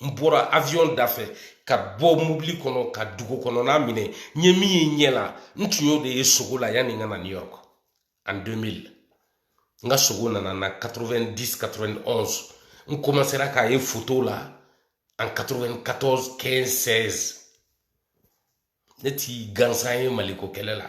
Speaker 1: n bɔra avion da fɛ ka bɔ mobili kɔnɔ ka dugu kɔnɔna minɛ n ye min ye n ɲɛ la n tun y'o de ye sogo la yanni n ka na new york en 2000 n ka sogo nana na 90 91 n commencera k'a ye foto la en 94 15 16 ne ti gansan ye mali ko kɛlɛ la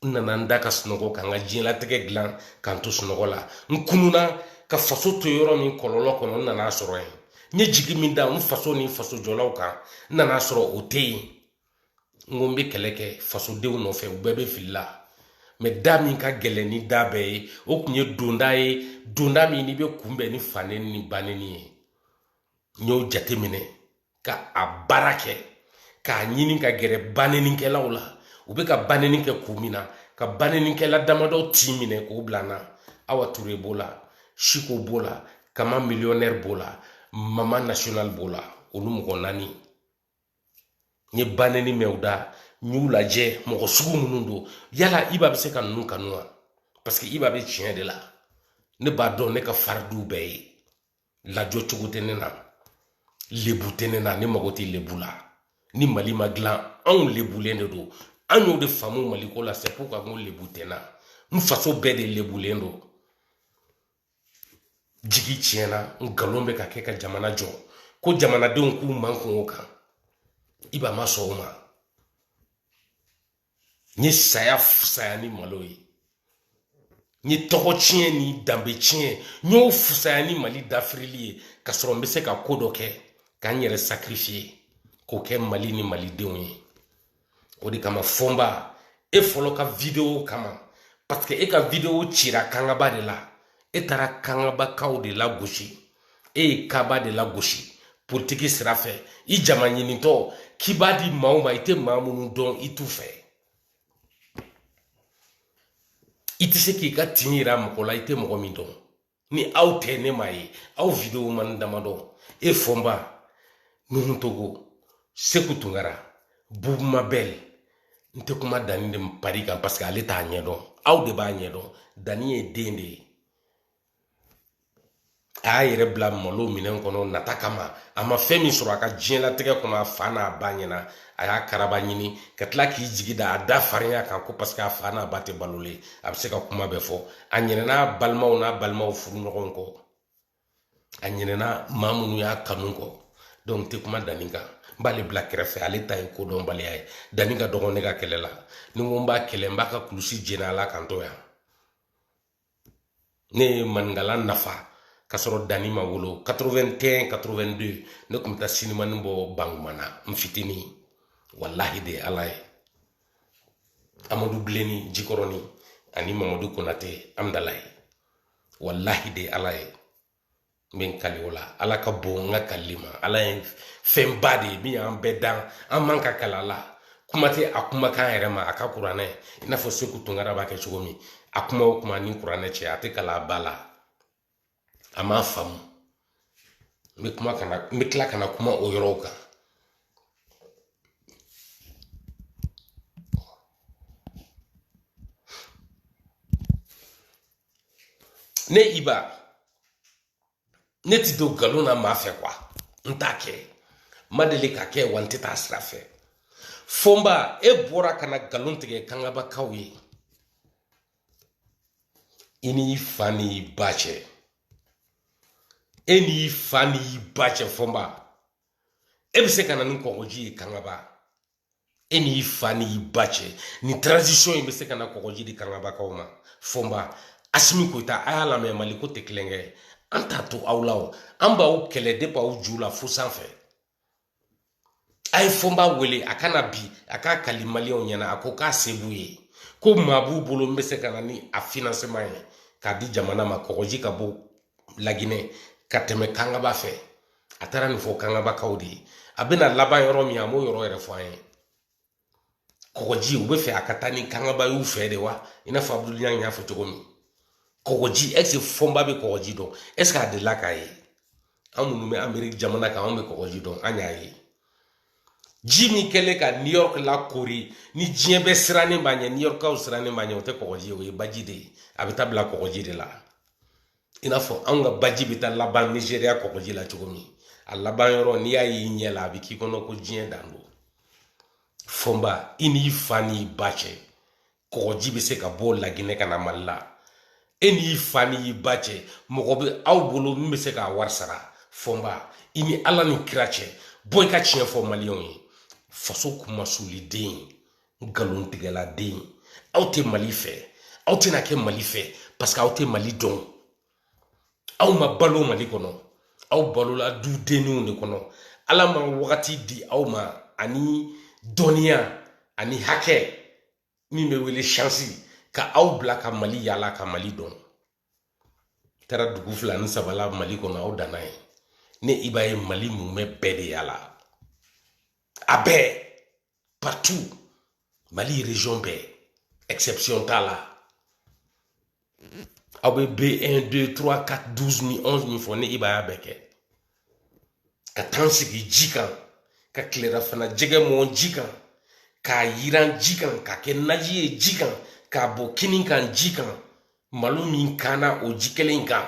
Speaker 1: n nana n da ka sunɔgɔ ka n ka diɲɛlatigɛ dilan ka n to sunɔgɔ la n kununa ka faso to yɔrɔ min kɔlɔlɔ kɔnɔ n nan'a sɔrɔ yen n ye jigi min da n faso ni faso jɔlaw kan n nan'a sɔrɔ o tɛ yen n ko n bɛ kɛlɛ kɛ fasodenw nɔfɛ u bɛɛ bɛ fili la mais da min ka gɛlɛn ni da bɛɛ ye o tun ye donda ye donda min n'i bɛ kunbɛn ni faneni ni baneni ye n y'o jateminɛ ka a baara kɛ k'a ɲini ka gɛrɛ banenikɛlaw la u bɛ ka baneni kɛ kun min na ka banenikɛla damadɔ tin minɛ k'o bila n na awa ture b'o la siko b'o la kama millionnaire b'o la mama national b'o la olu mɔgɔ naani n ye ba nɛni mɛn u da n y'u lajɛ mɔgɔ sugu minnu don yala iba bɛ se ka ninnu kanu wa paseke iba bɛ tiɲɛ de la ne b'a dɔn ne ka fari d'u bɛɛ ye lajɔ cogo tɛ ne na lebu tɛ ne na ne mago tɛ lebu la ni mali ma dilan anw lebulen de don an y'o de faamu mali ko la c'est pourquoi n ko lebu tɛ n na n faso bɛɛ de lebulen don jigi tiɲɛna n nkalon bɛ ka kɛ ka jamana jɔ ko jamanadenw k'u mankun o kan iba ma sɔn o ma n ye saya fusaya ni malo ye n ye tɔgɔ tiɲɛ ni danbe tiɲɛ n y'o fusaya ni mali dafirili ye ka sɔrɔ n bɛ se ka ko dɔ kɛ ka n yɛrɛ sakirifiye k'o kɛ mali ni malidenw ye o de kama fɔnba e fɔlɔ ka videwo kama parce que e ka videwo cira kangaba de la e taara kangabakaw de lagosi e ye kaba de lagosi politiki sira fɛ i jama ɲinitɔ k'i b'a di maaw ma i tɛ maa minnu dɔn i t'u fɛ i tɛ se k'i ka tin yira mɔgɔ la i tɛ mɔgɔ min dɔn ni aw tɛ ne ma ye aw videoman damadɔ e fɔnba nuhun togo seku tunkara bubu mabɛl n tɛ kuma dani de paris kan parce que ale t'a ɲɛdɔn aw de b'a ɲɛdɔn dani ye den de ye a y'a yɛrɛ bila malo minɛn kɔnɔ nata kama a ma fɛn min sɔrɔ a ka diɲɛlatigɛ kɔnɔ a fa n'a ba ɲɛna a y'a karaba ɲini ka tila k'i jigi da a da farinya kan ko paseke a fa n'a ba tɛ balolen a bɛ se ka kuma bɛɛ fɔ a ɲinɛna balimaw n'a balimaw furu ɲɔgɔn kɔ a ɲinɛna maa minnu y'a kanu kɔ dɔnku n tɛ kuma dani kan n b'ale bila kɛrɛfɛ ale ta ye kodɔnbaliya ye dani ka dɔgɔn ne ka kɛlɛ la ni n ko n b'a kɛlɛ n b'a ka kulusi jeni a la k'an to yan ne ye maninkala nafa ka sɔrɔ dani ma wolo 81 82 ne tun bɛ taa sinimani bɔ bangumana n fitinin walahi de ala ye amadu bilenni jikɔrɔni ani mamadu konate amidalayi walahi de ala ye n bɛ n kali o la ala ka bon n ka kalili ma ala ye fɛnba de ye min y'an bɛɛ dan an man ka kali a la kuma tɛ a kumakan yɛrɛ ma a ka kuranɛ i n'a fɔ seku tunkara b'a kɛ cogo min a kuma o kuma ni kuranɛ cɛ a tɛ kali a ba la a m'a faamu n bɛ kuma ka na n bɛ tila ka na kuma o yɔrɔw kan ne i ba ne tɛ don nkalon na maa fɛ quoi n t'a kɛ ma deli k'a kɛ wa n tɛ taa sira fɛ fɔnba e bɔra ka na nkalon tigɛ kangabakaw ye i n'i fa n'i ba cɛ e n'i fa n'i ba cɛ fɔnba e bɛ se ka na ni kɔgɔji ye kangaba e n'i fa n'i ba cɛ ni transition in bɛ se ka na kɔgɔji di kangabakaw ma fɔnba asimi koyita a y'a lamɛn mali ko tɛ tulonkɛ ye an t'a to aw la o an b'aw kɛlɛ de b'aw ju la fo sanfɛ a ye fɔnba wele a ka na bi a k'a kali maliyɛnw ɲɛna a ko k'a se b'u ye ko maa b'u bolo min bɛ se ka na ni a financement ye k'a di jamana ma kɔgɔji ka bɔ laginɛ ka tɛmɛ kangaba fɛ a taara nin fɔ kangabakaw de ye a bɛna laban yɔrɔ min a m'o yɔrɔ yɛrɛ fɔ an ye kɔgɔji u bɛ fɛ a ka taa ni kangaba y'u fɛ de wa i n'a fɔ abudulu ɲangi y'a fɔ cogo min kɔgɔji est-ce que fɔnba bɛ kɔgɔji dɔn est-ce que a delila k'a ye an minnu bɛ ameriki jamana kan anw bɛ kɔgɔji dɔn an y'a ye ji min kɛlen ka new york lakoori ni diɲɛ bɛɛ sirannen b'a ɲɛ new yorkaw sirannen b'a ɲɛ o tɛ kɔgɔji ye o ye baji de ye a bɛ taa bila kɔgɔji de la i n'a fɔ anw ka baji bɛ taa laban nizeriya kɔgɔji la cogo min a laban yɔrɔ n'i y'a y'i ɲɛ la a bɛ k'i kɔnɔ ko diɲɛ dan don fɔnba i n'i fa n'i ba cɛ kɔgɔji bɛ se ka bɔ laginɛ ka na mali la e n'i fa n'i ba cɛ mɔgɔ bɛ aw bolo min bɛ se k'a wari sara fɔnba i ni ala ni kira cɛ bɔ i ka tiɲɛ fɔ maliyɛnw ye faso kunmasuli den nkalon tigɛla den aw tɛ mali fɛ aw tɛna kɛ mali fɛ parce que aw tɛ mali dɔn aw ma balo mali kɔnɔ aw balola du denniw de kɔnɔ ala ma wagati di aw ma ani dɔnniya ani hakɛ min bɛ wele chance ka aw bila ka mali yala ka mali dɔn taara dugu fila ni saba la mali kɔnɔ aw danna yen ne i ba ye mali mumɛ bɛɛ de yala a bɛɛ partout mali région bɛɛ exception t'a la aw bɛ B1 2 3 4 12 ni 11 min fɔ ne i ba y'a bɛɛ kɛ ka taa n sigi ji kan ka tilerafana jɛgɛ mɔn ji kan k'a yiran ji kan k'a kɛ naji ye ji kan k'a bɔn kini kan ji kan malo min kanna o ji kelen kan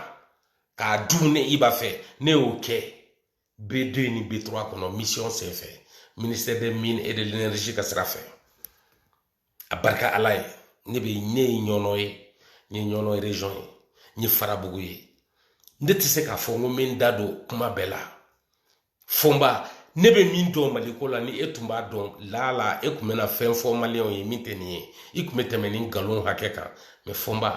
Speaker 1: k'a dun ne i ba fɛ ne y'o kɛ B2 ni B3 kɔnɔ mission senfɛ ministère des mines et de l'énergie ka sira fɛ abarika ala ye ne bɛ ne ye ɲɔnɔ ye n ye ɲɔnɔ region ye n ye farabugu ye ne tɛ se k'a fɔ n ko n bɛ n da don kuma bɛɛ la fɔnba ne bɛ min dɔn mali ko la ni e tun b'a dɔn laala e tun bɛna fɛn fɔ maliyɛnw ye min tɛ nin ye i tun bɛ tɛmɛ nin nkalon hakɛ kan mɛ fɔnba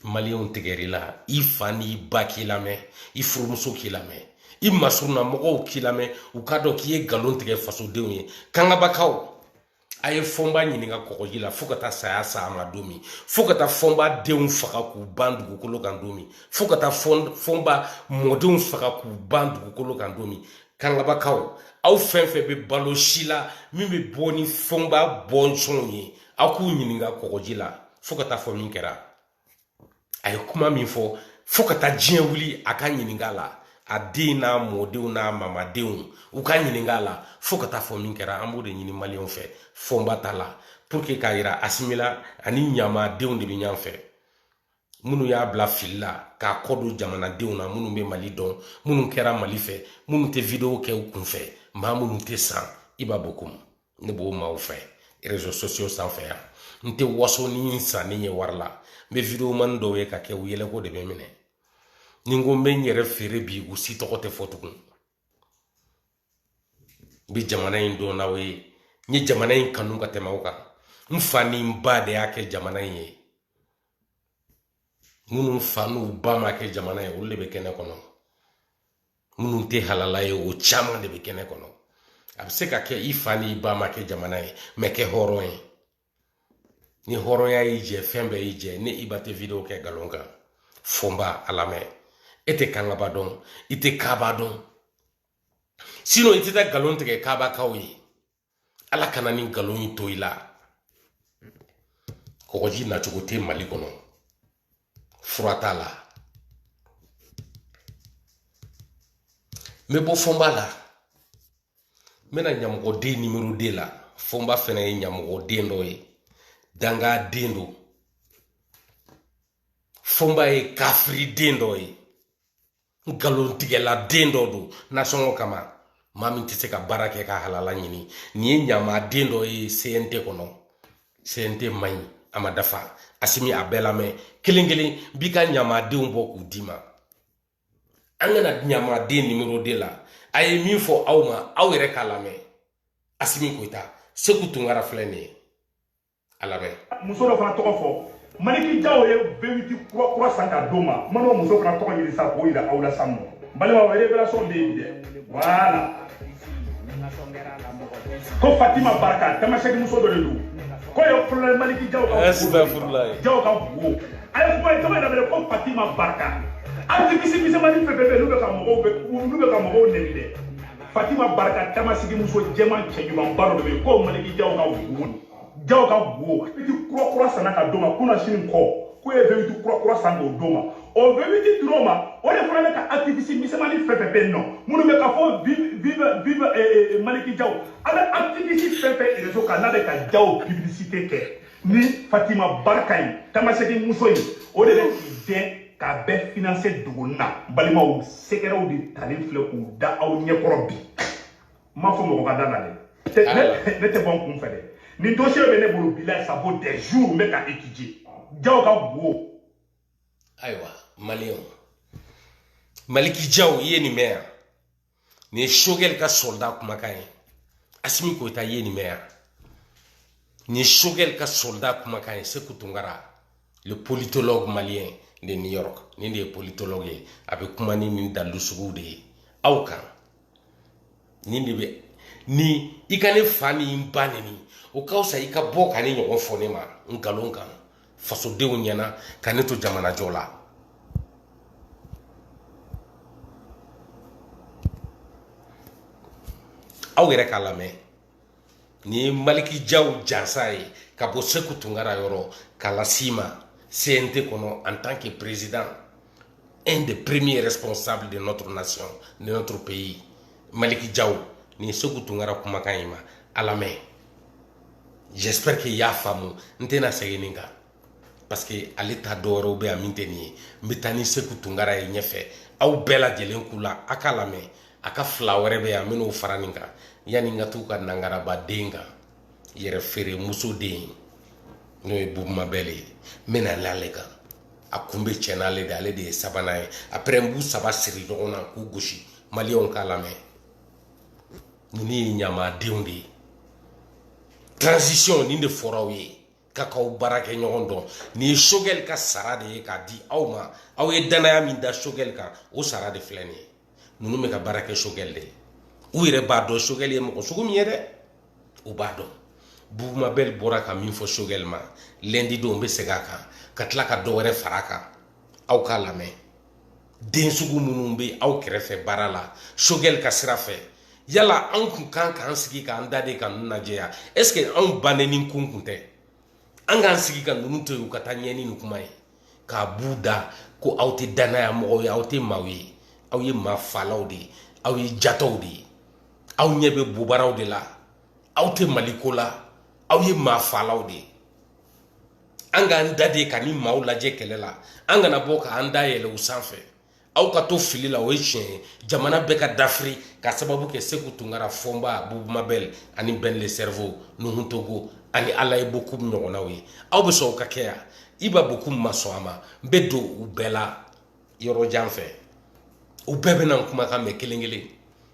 Speaker 1: maliyɛnw tigɛr'i la i fa n'i ba k'i lamɛn i furumuso k'i lamɛn i masuruna mɔgɔw k'i lamɛn u k'a dɔn k'i ye nkalon tigɛ fasodenw ye kangabakaw a ye fɔnba ɲininka kɔgɔji la fo ka taa saya se a ma don min fo ka taa fɔnba denw faga k'u ban dugukolo kan don min fo ka taa fɔnba mɔdenw faga k'u ban dugukolo kan don min kangabakaw aw fɛn fɛn bɛ balo si la min bɛ bɔ ni fɔnba bɔnsɔnw ye aw k'u ɲininka kɔgɔji la fo ka taa fɔ min kɛra a ye kuma min fɔ fo ka taa diɲɛ wuli a ka ɲininka la a den n'a mɔdenw n'a mamadenw u ka ɲininka la fo ka taa fɔ min kɛra an b'o de ɲini maliyɛnw fɛ fɔnba ta la pour que k'a yira asimi la a ni ɲamadenw de bɛ ɲɔgɔn fɛ minnu y'a bila fili la k'a kɔ don jamanadenw na minnu bɛ mali dɔn minnu kɛra mali fɛ minnu tɛ wideyo kɛ u kunfɛ maa minnu tɛ san i b'a bɔ ko ne b'o maaw fɛ rezo sosiyo sanfɛ yan n tɛ waso ni n sanni ye wari la n bɛ videomani dɔw ye ka kɛ u yɛlɛko de bɛ n minɛ ni n ko n bɛ n yɛrɛ feere bi u si tɔgɔ tɛ fɔ tugun n bɛ jamana in dɔn n'aw ye n ye jamana in kanu ka tɛmɛ aw kan n fa ni n ba de y'a kɛ jamana in ye minnu fa n'u ba m'a kɛ jamana ye olu de bɛ kɛnɛ kɔnɔ minnu tɛ halala ye o caman de bɛ kɛnɛ kɔnɔ a bɛ se ka kɛ i fa ni i ba m'a kɛ jamana ye mɛ kɛ hɔrɔn ye ni hɔrɔnya y'i jɛ fɛn bɛɛ y'i jɛ ni i ba tɛ video kɛ nkalon kan fɔnba a lamɛn e tɛ kangaba dɔn i tɛ kaba dɔn sinɔn i tɛ taa nkalon tigɛ kabakaw ye ala kana nin nkalon in to i la kɔgɔji nacogo tɛ mali kɔnɔ fura t'a la n bɛ bɔ fɔnba la n bɛ na ɲamɔgɔden numéro deux la fɔnba fɛnɛ ye ɲamɔgɔden dɔ ye danga den don fɔnba ye kafiri den dɔ ye nkalontigɛla den dɔ don nasɔngɔ kama maa min tɛ se ka baara kɛ ka halala ɲini nin ye ɲama den dɔ ye cnt kɔnɔ cnt man ɲi a ma dafa asimi a bɛɛ lamɛn kelen kelen bi ka ɲamadenw bɔ k'u d'i ma an ka na ɲamaden numéro deux la a ye min fɔ aw ma aw yɛrɛ k'a lamɛn asimi goyita seku tunkara filɛ nin ye a lamɛn muso dɔ
Speaker 2: fana tɔgɔ fɔ maliki jaw ye vewiti kura kura san ka d'o ma man'o muso fana tɔgɔ ɲini sa k'o yira aw la sinɔn balimaw révélation bɛ yen dɛ voilà ko fatima barika tamasɛki muso dɔ de don k'o ye kolonɛli maliki jaw ka jaw ka bugo a ye kuma ye tɔgɔ yɛrɛ bɛ ko fatima barika activiste misɛnmani fɛn fɛn bɛ yen n'u bɛ ka mɔgɔw bɛ n'u bɛ ka mɔgɔw nɛni dɛ fatima barika tamaseki muso jɛman cɛɲumanba dɔ de bɛ yen ko maliki jaw ka guwo jaw ka guwo vewiti kurakura sanna ka d'o ma kunasinikɔ k'u ye vewiti kurakura san k'o d'o ma o vewiti dir'o ma o de fana bɛ ka aktivisi misɛnmani fɛn fɛn bɛ yen nɔ minnu bɛ ka fɔ vive vive maliki jaw a bɛ aktivisi fɛn fɛn rezo kan n'a bɛ ka jaw piblisite kɛ ni fatima barika ye tamaseki muso ye o de bɛ k'i dɛn k'a bɛɛ finanse duguni na balimaw sɛgɛrɛw de talen filɛ k'u da aw ɲɛkɔrɔ bi n m'a fɔ mɔgɔ ka da n na dɛ ne tɛ bɔ n kun fɛ dɛ nin dosiye bɛ ne bolo bi la ça vaut des jours n bɛ k'a étudier jaw ka guwo
Speaker 1: ayiwa maliyɛnw maliki jaw i ye nin mɛn yan nin ye sogɛli ka sɔrɔda kumakan ye asimi goyita ye nin mɛn yan nin ye sogɛli ka sɔrɔda kumakan ye seku tunkara le politologue malien de new york nin de ye politologue ye a bɛ kuma ni nin dalilu suguw de ye aw kan nin de bɛ ni i ka ne fa ni n ba neni o ka fisa i ka bɔ ka nin ɲɔgɔn fɔ ne ma nkalon kan fasodenw ɲɛna ka ne to jamanajɔ la aw yɛrɛ k'a lamɛn nin ye maliki jaw jansa ye ka bɔ seku tunkara yɔrɔ k'a las'i ma cnt kɔnɔ en tant que président un des premiers responsables de notre nation de notre pays maliki jaw nin ye seku tunkara kumakan y'i ma a lamɛn j'espère que i y'a faamu n tɛna segin nin kan parce que ale ta dɔwɛrɛw bɛ yan min tɛ nin ye n bɛ taa ni seku tunkara ye ɲɛfɛ aw bɛɛ lajɛlen k'u la a k'a lamɛn a ka fila wɛrɛ bɛ yan n bɛn'o fara nin kan yanni n ka t'u ka nangarabaden kan yɛrɛfeeremuso den ye n'o ye bubu mabɛli ye n bɛna n'ale kan a kun bɛ cɛ n'ale de ale de ye sabanan ye après n b'u saba siri ɲɔgɔn na k'u gosi maliyɛnw k'a lamɛn ninnu ye ɲamadenw de ye transition nin de fɔra aw ye k'a k'aw baarakɛɲɔgɔn dɔn nin ye sogɛli ka sara de ye k'a di aw ma aw ye dannaya min da sogɛli kan o sara de filɛ nin ye ninnu bɛ ka baara kɛ sogɛli de ye u yɛrɛ b'a dɔn sogɛli ye mɔgɔ sugu min ye dɛ u b'a dɔn bubu mabɛli bɔra ka min fɔ sogɛli ma lɛndi don n bɛ segin a kan ka tila ka dɔ wɛrɛ fara a kan aw k'a lamɛn den sugu minnu bɛ aw kɛrɛfɛ baara la sogɛli ka sira fɛ yala anw kun kan k'an sigi k'an da de ka ninnu lajɛ yan ɛseke anw bannen nin kun kun tɛ an k'an sigi ka ninnu to yen u ka taa ɲɛ ni nin kuma ye k'a b'u da ko aw tɛ dannaya mɔgɔw ye aw tɛ maaw ye aw ye maa falaw de ye aw ye jatɔw de ye aw ɲɛ bɛ bobaraw de la aw tɛ mali ko la aw ye maa falaw de ye an k'an da de ka nin maaw lajɛ kɛlɛ la an kana bɔ k'an da yɛlɛ u sanfɛ aw ka to fili la o ye tiɲɛ ye jamana bɛɛ ka dafiri ka sababu kɛ seku tunkara fɔnba bubu mabɛl ani ben le cerveau nuhun togo ani alaye bokum ɲɔgɔnnaw ye aw bɛ sɔn o ka kɛ yan iba bokum ma sɔn a ma n bɛ don u bɛɛ la yɔrɔ jan fɛ u bɛɛ bɛna n kumakan mɛn kelen kelen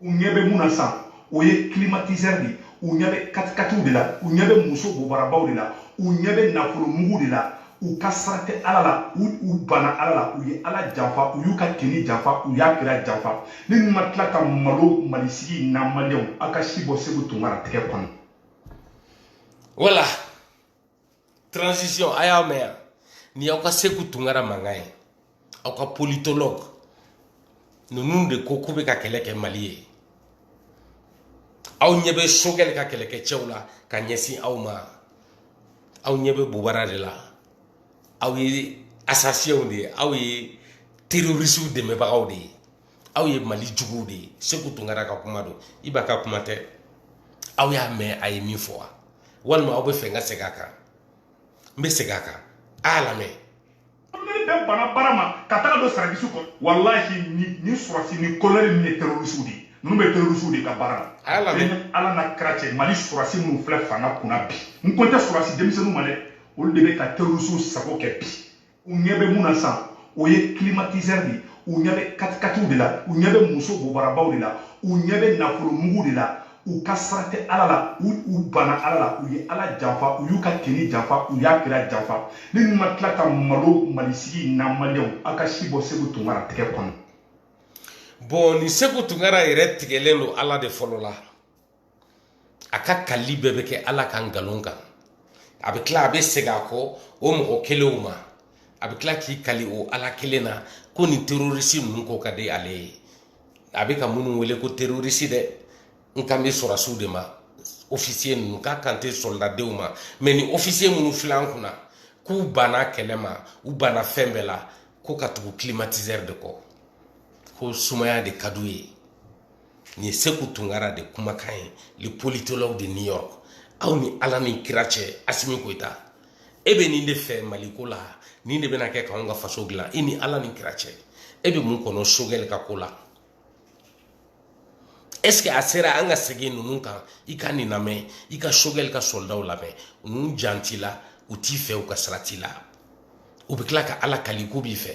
Speaker 3: u ɲɛ bɛ mun na sisan o ye climatiseur de ye u ɲɛ bɛ katikatiw de la u ɲɛ bɛ muso bobarabaw de la u ɲɛ bɛ nafolo mugu de la u ka sira tɛ ala la u u banna ala la u ye ala janfa u y'u ka diinɛ janfa u y'a kira janfa ni ninnu ma tila ka malo mali sigi na maliyɛnw a ka si bɔ seku tunkara tɛgɛ kɔnɔ
Speaker 1: voilà transition a y'a mɛn yan nin aw ka seku tunkara mankan ye aw ka politologue ninnu de ko k'u bɛ ka kɛlɛ kɛ mali ye aw ɲɛ bɛ sogɛli ka kɛlɛkɛcɛw la ka ɲɛsin aw ma aw ɲɛ bɛ bobara de la aw ye asasɛnw de ye aw ye terorisiw dɛmɛbagaw de ye aw ye mali juguw de ye seku tunkara ka kuma don iba ka kuma tɛ aw y'a mɛn a ye min fɔ wa walima aw bɛ fɛ n ka segin a kan n bɛ segin a kan a y'a lamɛn nin
Speaker 3: bɛɛ banna baara ma ka taga don service kɔnɔ walahi ni surasi ni kolonɛli ninnu ye terorisiw de ye ninnu bɛ terorisiw de ka baara la ala
Speaker 1: n'a kira cɛ mali
Speaker 3: surasi minnu filɛ fanga kunna bi n kan tɛ surasi denmisɛnninw ma dɛ olu de bɛ ka terorisiw sago kɛ bi u ɲɛ bɛ mun na sisan o ye climatiseur de ye u ɲɛ bɛ katikatiw de la u ɲɛ bɛ muso bobarabaw de la u ɲɛ bɛ nafolo mugu de la u ka sira tɛ ala la u u banna ala la u ye ala janfa u y'u ka diinɛ janfa u y'a kira janfa ni ninnu ma tila ka malo mali sigi na maliyɛnw a ka si bɔ seku tunkara tɛgɛ kɔnɔ
Speaker 1: bon nin seku tunkara yɛrɛ tigɛlen don ala de fɔlɔ la a ka kali bɛɛ bɛ kɛ ala ka nkalon kan a bɛ tila a bɛ segin a kɔ o mɔgɔ kelenw ma a bɛ tila k'i kali o ala kelen na ko nin terorisi ninnu ko ka di ale ye a bɛ ka minnu wele ko terorisi dɛ n kan bɛ sɔrɔsiw de ma ofisiye ninnu n kan tɛ sɔlidadenw ma mɛ nin ofisiye minnu filɛ an kunna k'u banna kɛlɛ ma u banna fɛn bɛɛ la ko ka tugu kilimatizɛri de kɔ ko sumaya de ka d'u ye nin ye seku tunkara de kumakan ye le politologue de new york aw ni ala ni kira cɛ asimi goyita e bɛ nin de fɛ maliko la nin de bɛna kɛ k'anw ka faso dilan i ni ala ni kira cɛ e bɛ mun kɔnɔ sogɛli ka ko la est ce que a sera an ka segin ninnu kan i ka nin lamɛn i ka sogɛli ka sɔlidaw lamɛn ninnu jan t'i la u t'i fɛ u ka sira t'i la u bɛ tila ka ala kali k'u b'i fɛ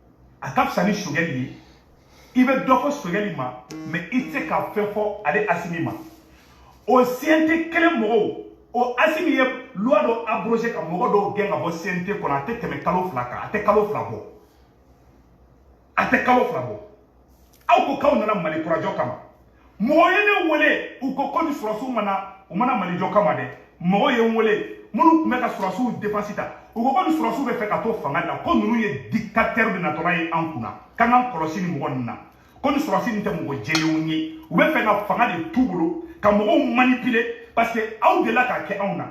Speaker 3: a ka fisa ni sogɛli ye i bɛ dɔ fɔ sogɛli ma mɛ i tɛ se ka fɛn fɔ ale asimi ma o cnt kelen mɔgɔw o asimi ye luwa dɔ abrogé ka mɔgɔ dɔw gɛn ka bɔ cnt kɔnɔ a tɛ tɛmɛ kalo fila kan a tɛ kalo fila bɔ a tɛ kalo fila bɔ aw ko k'aw nana mali kurajɔ kama mɔgɔ ye ne wele u ko ko nin sɔrɔsiw ma na u ma na mali jɔ kama dɛ mɔgɔ ye n wele minnu tun bɛ ka sɔrɔsiw defansi ta u ko ko nin sɔrɔsiw bɛ fɛ ka to fanga la ko ninnu ye diktatɛri de natɔla ye an kunna k'an k'an kɔlɔsi nin mɔgɔ ninnu na ko nin sɔrɔsi nin tɛ mɔgɔ jɛlenw ye u bɛ fɛ ka fanga de t'u bolo ka mɔgɔw manipile parce que aw delila k'a kɛ anw na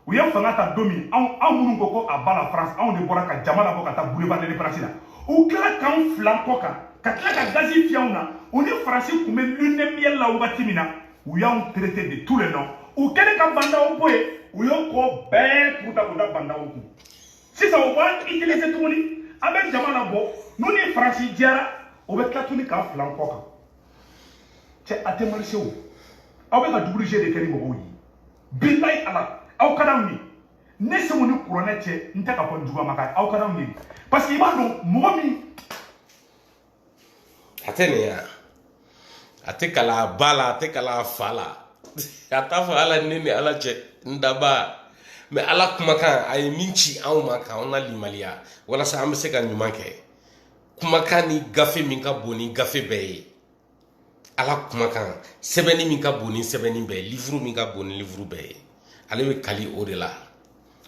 Speaker 3: u ye fanga ta don min anw minnu ko ko à bas la france anw de bɔra ka jama labɔ ka taa boulevard de l'indépendance la u tila k'anw fil'an kɔ kan ka tila ka gazi fiyɛ anw na u ni faransi tun bɛ lune de miel la wagati min na u y'anw traité de tous les noms u kɛlen ka ba ndaw bɔ yen u y'o ko bɛɛ kuru ta k'u da ba ndaw kun sisan u b'an utiliser tuguni an bɛ jama labɔ n'u ni faransi jɛra u bɛ tila tuguni k'an fil'an kɔ kan cɛ a tɛ marise o aw bɛ ka double jeu de kɛ ni mɔgɔw ye bilayi ala aw ka d'anw ye ne seku ni kuranɛ cɛ n tɛ ka fɔ n juguyama ka aw ka d'anw ye parce que i b'a dɔn mɔgɔ min
Speaker 1: a tɛ nin yan a tɛ kali a ba la a tɛ kali a fa la a t'a fɔ ala ne ni ala cɛ n dabaa mɛ ala kumakan a ye min ci anw ma k'anw lalimaniya walasa an bɛ se ka ɲuman kɛ kumakan ni gafe min ka bon ni gafe bɛɛ ye ala kumakan sɛbɛnni min ka bon ni sɛbɛnni bɛɛ ye livuru min ka bon ni livuru bɛɛ ye ale bɛ kali o de la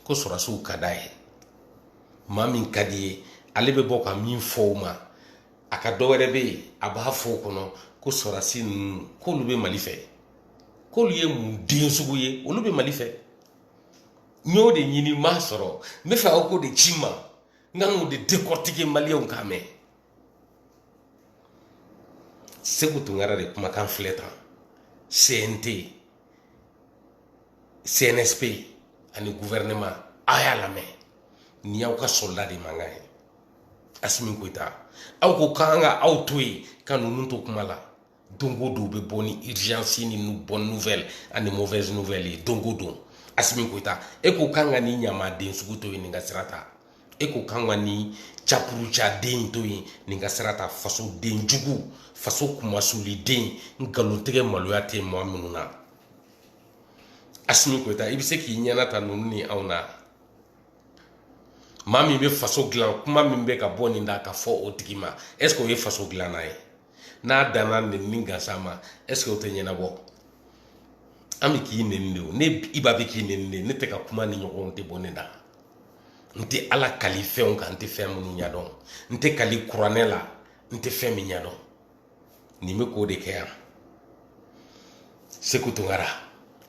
Speaker 1: ko sɔrɔsiw ka d'a ye maa min ka d'i ye ale bɛ bɔ ka min fɔ o ma a ka dɔ wɛrɛ bɛ yen a b'a fɔ o kɔnɔ ko sɔrɔsi ninnu k'olu bɛ mali fɛ k'olu ye mun den sugu ye olu bɛ mali fɛ n y'o de ɲini n m'a sɔrɔ n bɛ fɛ aw k'o de ci n ma n ka n'o de dekɔrɔtike maliyɛnw k'a mɛn seku tunkara de kumakan filɛ tan cnt cnsp ani gouvernement a y'a lamɛn nin y'aw ka soldat de mankan ye asimi koyita aw ko k'an ka aw to yen ka ninnu to kuma la don o don u bɛ bɔ ni urgence ni bonne nouvelle ani mauvaise nouvelle ye don o don asimi koyita e ko k'an ka nin ɲamaden sugu to yen nin ka sira ta e ko k'an ka nin capurucaden to yen nin ka sira ta fasoden jugu faso kumasuliden nkalontigɛ maloya tɛ maa minnu na asimi koyita i bɛ se k'i ɲɛna ta ninnu ni anw na maa min bɛ faso dilan kuma min bɛ ka bɔ nin da ka fɔ o tigi ma est ce que o ye faso dilanna ye n'a danna nenni gansan ma est ce que o tɛ ɲɛnabɔ an bɛ k'i nɛni de o ne iba bɛ k'i nɛni de ne tɛ ka kuma nin ɲɔgɔn tɛ bɔ ne da n tɛ ala kali fɛnw kan n tɛ fɛn minnu ɲɛdɔn n tɛ kali kuranɛ la n tɛ fɛn min ɲɛdɔn nin bɛ k'o de kɛ yan seku tunkara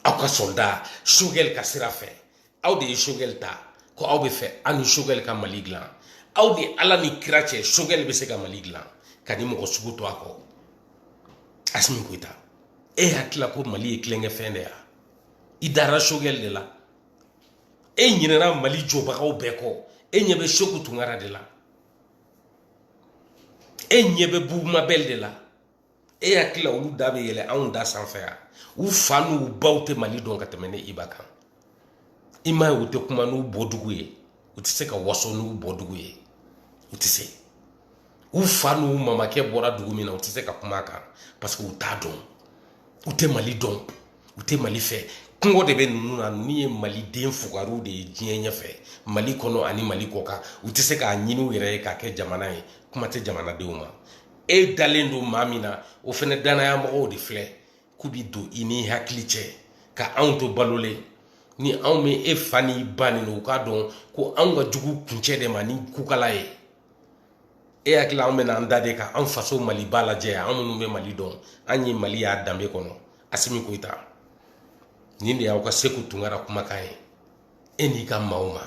Speaker 1: aw ka soldat sogɛli ka sira fɛ aw de ye sogɛli ta ko aw b'a fɛ aw ni sogɛli ka mali dilan aw ni ala ni kira cɛ sogɛli bɛ se ka mali dilan ka nin mɔgɔ sugu to a kɔ asimi koyita e hakili la ko mali ye tulonkɛfɛn de ya i dara sogɛli de la e ɲinɛna mali jɔbagaw bɛɛ kɔ e ɲɛ bɛ seku tunkara de la e ɲɛ bɛ bubu mabɛli de la e hakili la olu da bɛ yɛlɛ anw da sanfɛ yan u fa n'u baw tɛ mali dɔn ka tɛmɛ ne iba kan i m'a ye u tɛ kuma n'u bɔdugu ye u tɛ se ka waso n'u bɔdugu ye u tɛ se u fa n'u mamakɛ bɔra dugu min na u tɛ se ka kuma a kan parce que u t'a dɔn u tɛ mali dɔn u tɛ mali fɛ kɔngɔ de bɛ ninnu na ninnu ye maliden fugariw de ye diɲɛ ɲɛfɛ mali kɔnɔ ani mali kɔkan u tɛ se k'a ɲini u yɛrɛ ye k'a kɛ jamana ye kuma tɛ jamanadenw ma e dalen don maa min na o fana dannaya mɔgɔw de filɛ k'u bɛ don i n'i hakili cɛ ka anw to balolen ni anw bɛ e fa n'i ba nɛni u k'a dɔn ko anw ka jugu kuncɛ de ma ni kukala ye e hakili la anw bɛna an da de ka an faso maliba lajɛ an minnu bɛ mali dɔn an ye mali y'a danbe kɔnɔ asimi koyita nin de y'aw ka seku tunkara kumakan ye e n'i ka maaw ma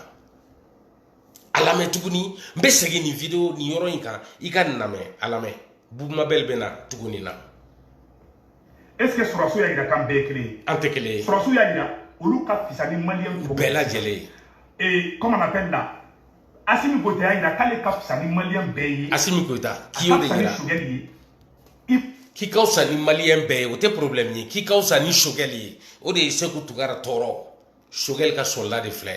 Speaker 1: a lamɛn tuguni n bɛ segin nin video nin yɔrɔ in kan i ka nin lamɛn a lamɛn bubu mabɛli bɛna tugu nin na
Speaker 3: est ce que sɔrɔsiw y'a jira k'an bɛɛ ye kelen ye an tɛ kelen ye sɔrɔsiw y'a
Speaker 1: jira
Speaker 3: olu ka fisa ni maliyɛn tɔw bɛɛ lajɛlen
Speaker 1: ye ee
Speaker 3: comment on appelle la asimi goyita y'a jira k'ale ka fisa ni maliyɛn bɛɛ ye asimi goyita k'i y'o
Speaker 1: de jira k'i ka fisa ni maliyɛn bɛɛ ye o tɛ problème ye k'i ka fisa ni sogɛli ye o de ye seku tunkara tɔɔrɔ sogɛli ka soldat de filɛ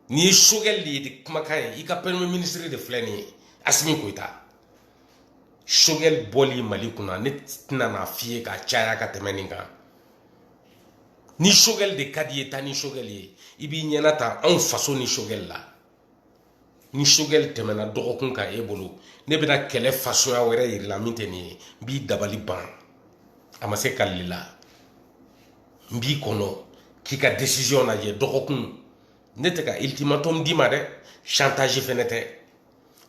Speaker 1: nin ye sogɛli de ye de kumakan ye i ka premier ministre de filɛ nin ye asimi koyita sogɛli bɔli mali kunna ne tɛna n'a f'i ye ka caya ka tɛmɛ nin kan ni sogɛli de ka d'i ye taa ni sogɛli ye i b'i ɲɛnata anw faso ni sogɛli la ni sogɛli tɛmɛna dɔgɔkun kan e bolo ne bɛna kɛlɛ fasɔnya wɛrɛ yir'i la min tɛ nin ye n b'i dabali ban a ma se kalili la n b'i kɔnɔ k'i ka décision lajɛ dɔgɔkun ne tɛ ka ultimatum d'i ma dɛ chantage fɛnɛ tɛ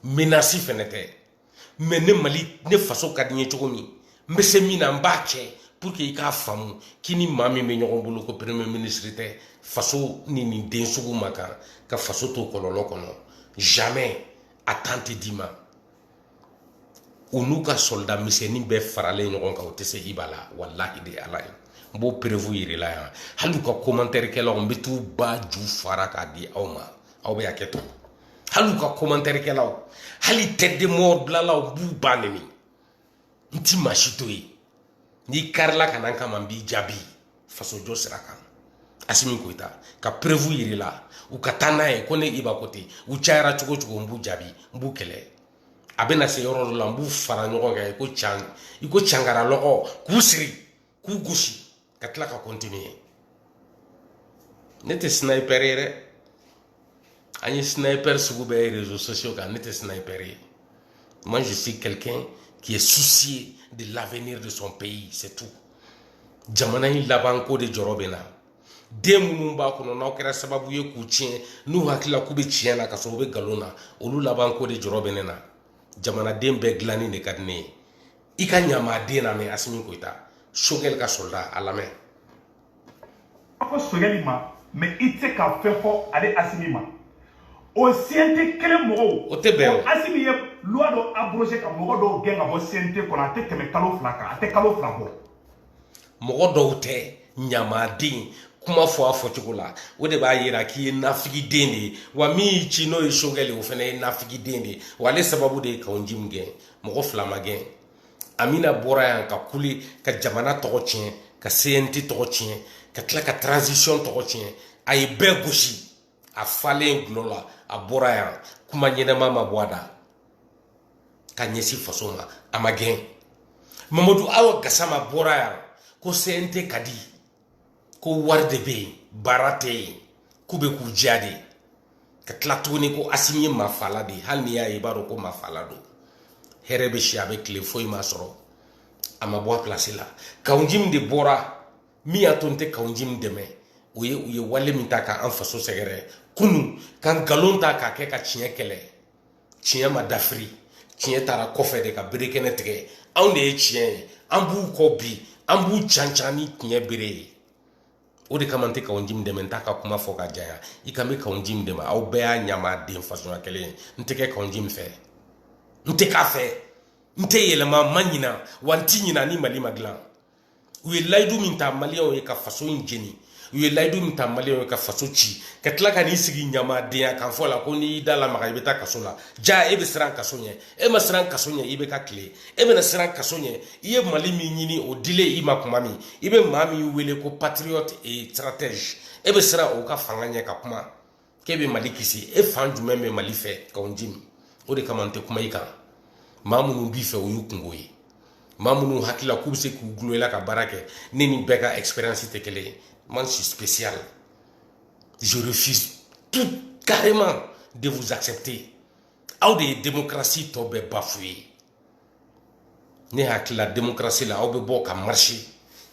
Speaker 1: menace fɛnɛ tɛ mais ne mali ne faso ka di n ye cogo min n bɛ se min na n b'a kɛ pour que i k'a faamu k'i ni maa min bɛ ɲɔgɔn bolo ko premier ministre tɛ faso ni nin den sugu ma kan ka faso to kɔlɔlɔ kɔnɔ jamais a tan tɛ d'i ma u n'u ka soldat misɛnnin bɛɛ faralen ɲɔgɔn kan u tɛ se iba la walahi de ala ye n b'o perewu yirila yan hali u ka kɔmantɛrikɛlaw n bɛ t'u ba ju fara k'a di aw ma aw bɛ hakɛ to hali u ka kɔmantɛrikɛlaw hali tête de mort bilalaw n b'u ba nɛni n ti maa si to yen n'i karila ka na n kama n b'i jaabi fasojɔ sira kan asimi koyita ka perewu yirila u ka taa n'a ye ko ne iba ko ten u cayara cogo cogo n b'u jaabi n b'u kɛlɛ a bɛna se yɔrɔ dɔ la n b'u fara ɲɔgɔn kan i ko cangara lɔgɔ k'u siri k'u gosi ka tila ka kɔntiniye ne tɛ sniper ye dɛ an ye sniper sugu bɛɛ ye réseaux sociaux kan ne tɛ sniper ye moi je suis quelqu'un qui est soucié de l'avenir de son pays c'est tout jamana in labanko de jɔrɔ bɛ n na den minnu b'a kɔnɔ n'aw kɛra sababu ye k'u tiɲɛ n'u hakili la k'u bɛ tiɲɛ na ka sɔrɔ u bɛ nkalon na olu labanko de jɔrɔ bɛ ne na jamanaden bɛɛ dilanni de ka di ne ye i ka ɲamaden namɛn asimi koyita sogɛli ka sɔrɔda a
Speaker 3: lamɛn a ko sogɛli ma mais i tɛ se ka fɛn fɔ ale asimi ma o cnt kelen mɔgɔw o tɛ bɛn o
Speaker 1: asimi ye loi
Speaker 3: dɔ abroger ka mɔgɔ dɔw gɛn ka bɔ cnt kɔnɔ a tɛ tɛmɛ kalo fila kan a tɛ kalo fila bɔ
Speaker 1: mɔgɔ dɔw tɛ ɲamaden kuma fɔ a fɔcogo la o de b'a yira k'i ye nafigiden de ye wa min y'i ci n'o ye sogɛli o fana ye nafigiden de ye wa ale sababu de ye kawu jimi gɛn mɔgɔ fila ma gɛn amina bɔra yan ka kuli ka jamana tɔgɔ tiɲɛ ka cnt tɔgɔ tiɲɛ ka tila ka transition tɔgɔ tiɲɛ a ye bɛɛ gosi a falen gulɔ la a bɔra yan kuma ɲɛnama ma bɔ a da ka ɲɛsin faso ma a ma gɛn mamadu awa gasama bɔra yan ko cnt ka di ko wari de bɛ yen baara tɛ yen k'u bɛ k'u diya de ka tila tuguni ko asimi ye mafala de ye hali n'i y'a ye i b'a dɔn ko mafala don hɛrɛ bɛ si a bɛ tile foyi m'a sɔrɔ a ma bɔ a pilasi la kawu jimi de bɔra min y'a to n tɛ kawu jimi dɛmɛ o ye u ye wale min ta k'an faso sɛgɛrɛ kunu ka nkalon ta k'a kɛ ka tiɲɛ kɛlɛ tiɲɛ ma dafiri tiɲɛ taara kɔfɛ de ka bere kɛnɛ tigɛ anw de ye tiɲɛ ye an b'u kɔ bi an b'u cancan ni tiɲɛ bere ye o de kama n tɛ kawu jimi dɛmɛ n t'a ka kuma fɔ ka janya i k'an bɛ kawu jimi dɛmɛ aw bɛɛ ye ɲamaden fasuguya kelen ye n tɛ kɛ kawu jimi fɛ n tɛ k'a fɛ n tɛ yɛlɛma n ma ɲina wa n tɛ ɲina ni mali ma dilan u ye layidu min ta maliyɛnw ye ka faso in jeni u ye layidu min ta maliyɛnw ye ka faso ci ka tila ka n'i sigi ɲamadenya kan fɔ la ko n'i y'i da lamaga i bɛ taa kaso la ja e bɛ siran kaso ɲɛ e ma siran kaso ɲɛ ibk tile e bɛna siran kaso ɲɛ i ye mali min ɲini o dilen i ma kuma min i bɛ maa min wele ko patriote et stratège e bɛ siran o ka fanga ɲɛ ka kuma k'e bɛ mali kisi e fan jumɛn bɛ mali fɛ kawo jim o de kama n tɛ kuma i kan maa minnu b'i fɛ o y'u kungo ye maa minnu hakilila k'u bɛ se k'u gulon i la ka baara kɛ ne ni bɛɛ ka expérience tɛ kelen ye moi je suis spécial je refuse tout carrément de vous accepter aw de ye démocratie tɔ bɛɛ bafouer ne hakilila demokarasi la aw bɛ bɔ ka marcher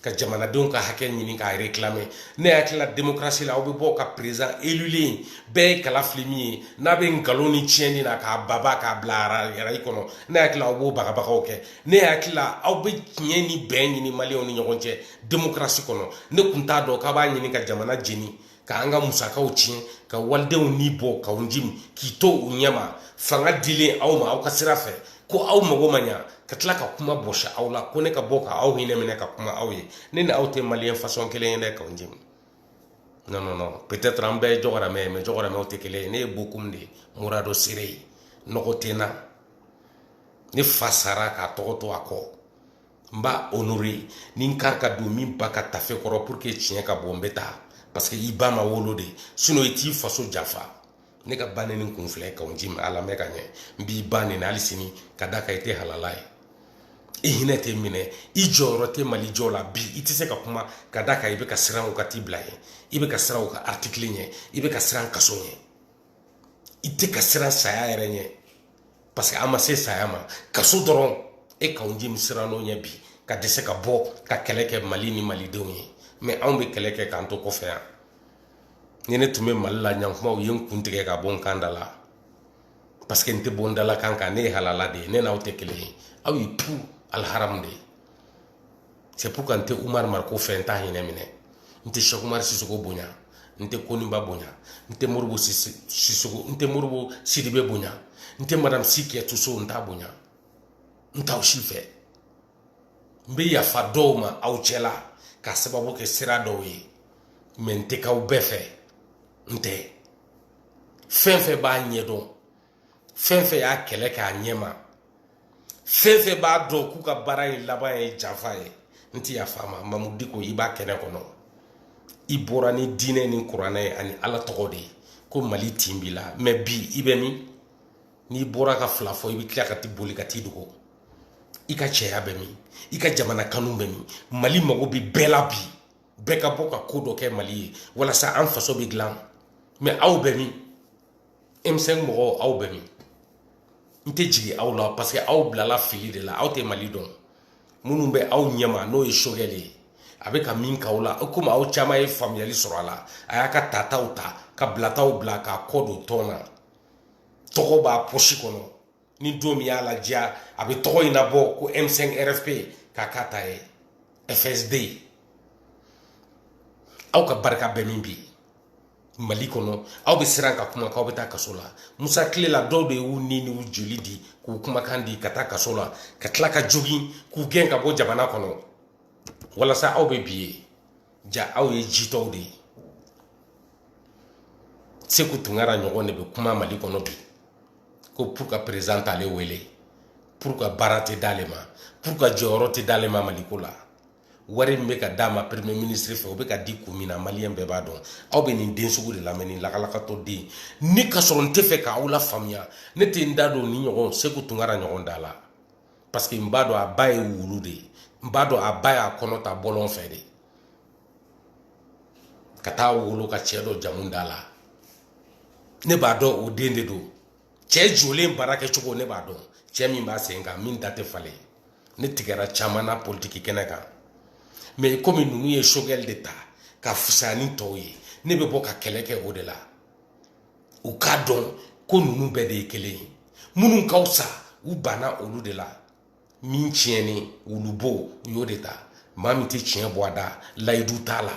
Speaker 1: ka jamanadenw ka hakɛ ɲini k'a réclamer ne hakilila demokarasi la aw bɛ bɔ ka président élulen bɛɛ ye kala fili min ye n'a bɛ nkalon ni tiɲɛni na k'a baba k'a bila arayi kɔnɔ ne hakilila aw b'o bagabagaw kɛ ne hakilila aw bɛ tiɲɛ ni bɛn ɲini maliyɛnw ni ɲɔgɔn cɛ demokarasi kɔnɔ ne tun t'a dɔn k'a b'a ɲini ka jamana jeni k'an ka musakaw tiɲɛ ka walidenw ni bɔ kawo jim k'i to u ɲɛma fanga dilen aw ma aw ka sira fɛ ko aw mago ma ɲa ka tila ka kuma bɔsi aw la ko ne ka bɔ ka aw hinɛ minɛ ka kuma aw ye ne ni aw tɛ maliyɛn façon kelen ye dɛ kawo jim non non non peut-être an bɛɛ ye jɔgɔrɛmɛ ye mais jɔgɔrɛmɛw tɛ kelen ye ne ye bokum de ye murado sere ye nɔgɔ tɛ n na ne fa sara k'a tɔgɔ to a kɔ n b'a honorer ni n kari ka don min ba ka tafe kɔrɔ pour que tiɲɛ ka bɔ n bɛ taa parce que i ba ma wolo de sinon i t'i faso janfa ne ka ba neni kun filɛ kawo jim a lamɛn ka ɲɛ n b'i ba neni hali sini ka da kan i tɛ halala ye i hinɛ tɛ minɛ i jɔyɔrɔ tɛ mali jɔ la bi i tɛ se ka kuma ka da kan i bɛ ka siran u ka tribunal ɲɛ i bɛ ka siran u ka artikili ɲɛ i bɛ ka siran kaso ɲɛ i tɛ ka siran saya yɛrɛ ɲɛ parce que an ma se saya ma kaso dɔrɔn e kawo jim siranna o ɲɛ bi ka dɛsɛ ka bɔ ka kɛlɛ kɛ mali ni malidenw ye mais anw bɛ kɛlɛ kɛ k'an to kɔfɛ yan ni ne tun bɛ mali la ɲankumaw ye n kun tigɛ ka bɔ n kan da la parce que n tɛ bɔ n dalakan kan ne ye halala de ye ne n'aw tɛ kelen ye aw ye tout aliharamu de ye c'est pourquoi n tɛ umar mariko fɛ n t'a hinɛ minɛ n tɛ cheikh umar sisoko bonya n tɛ koniba bonya n tɛ moribo sisoko n tɛ moribo sidibe bonya n tɛ madame si kajatu so n t'a bonya n t'aw si fɛ n bɛ yafa dɔw ma aw cɛla k'a sababu kɛ sira dɔw ye mais n tɛ k'aw bɛɛ fɛ n tɛ fɛn fɛn b'a ɲɛdɔn fɛn fɛn y'a kɛlɛ k'a ɲɛma fɛn fɛn b'a dɔn k'u ka baara in laban ye janfa ye n tɛ yafa ma mamudu diko i b'a kɛnɛ kɔnɔ i bɔra ni diinɛ ni kuranɛ ye ani ala tɔgɔ de ye ko mali tin b'i la mɛ bi i bɛ min n'i bɔra ka fila fɔ i bɛ tila ka t'i boli ka t'i dogo i ka cɛya bɛ min i ka jamana kanu bɛ min mali mago bɛ bɛɛ la bi bɛɛ ka bɔ ka ko dɔ kɛ mali ye walasa an faso bɛ dilan mɛ aw bɛ min m5 mɔgɔw aw bɛ min n tɛ jigin aw la parce que aw bilala fili de la aw tɛ mali dɔn minnu bɛ aw ɲɛma n'o ye sogɛli ye a bɛ ka min k'aw la komi aw caman ye faamuyali sɔrɔ a la a y'a ka tataw ta ka bilataw bila k'a kɔ don tɔn na tɔgɔ b'a pɔsi kɔnɔ ni don min y'a ladiya a bɛ tɔgɔ in labɔ ko m5 rfp k'a k'a ta ye fsd aw ka barika bɛ min bi mali kɔnɔ aw bɛ siran ka kuma k'aw bɛ taa kaso la musa tile la dɔw de y'u ni n'u joli di k'u kumakan di ka taa kaso la ka tila ka jogin k'u gɛn ka bɔ jamana kɔnɔ walasa aw bɛ bi ye ja aw ye jitɔw de ye seku tunkara ɲɔgɔn de bɛ kuma mali kɔnɔ bi ko pourquoi président t'ale wele pourquoi baara tɛ d'ale ma pourquoi jɔyɔrɔ tɛ d'ale ma maliko la wari min bɛ ka d'a ma premier ministre fɛ o bɛ ka di kun min na maliyɛn bɛɛ b'a dɔn aw bɛ nin den sugu de lamɛn nin lakalakatɔ den ni ka sɔrɔ n tɛ fɛ k'aw lafaamuya ne tɛ n da don nin ɲɔgɔn seku tunkara ɲɔgɔn da la parce que n b'a dɔn a ba ye wulu de ye n b'a dɔn a ba y'a kɔnɔ ta bɔlɔn fɛ de ka taa wolo ka cɛ dɔ jamu d'a la ne b'a dɔn o den de don cɛ jɔlen baara kɛcogo ne b'a dɔn cɛ min b'a sen kan min da tɛ falen ne tigɛra caman na politiki kɛnɛ kan mɛ komi ninnu ye sogɛli de ta ka fisa ni tɔw ye ne bɛ bɔ ka kɛlɛ kɛ o de la u k'a dɔn ko ninnu bɛɛ de ye kelen ye minnu ka fisa u banna olu de la min tiɲɛnen wulubo u y'o de ta maa min tɛ tiɲɛ bɔ a da layidu t'a la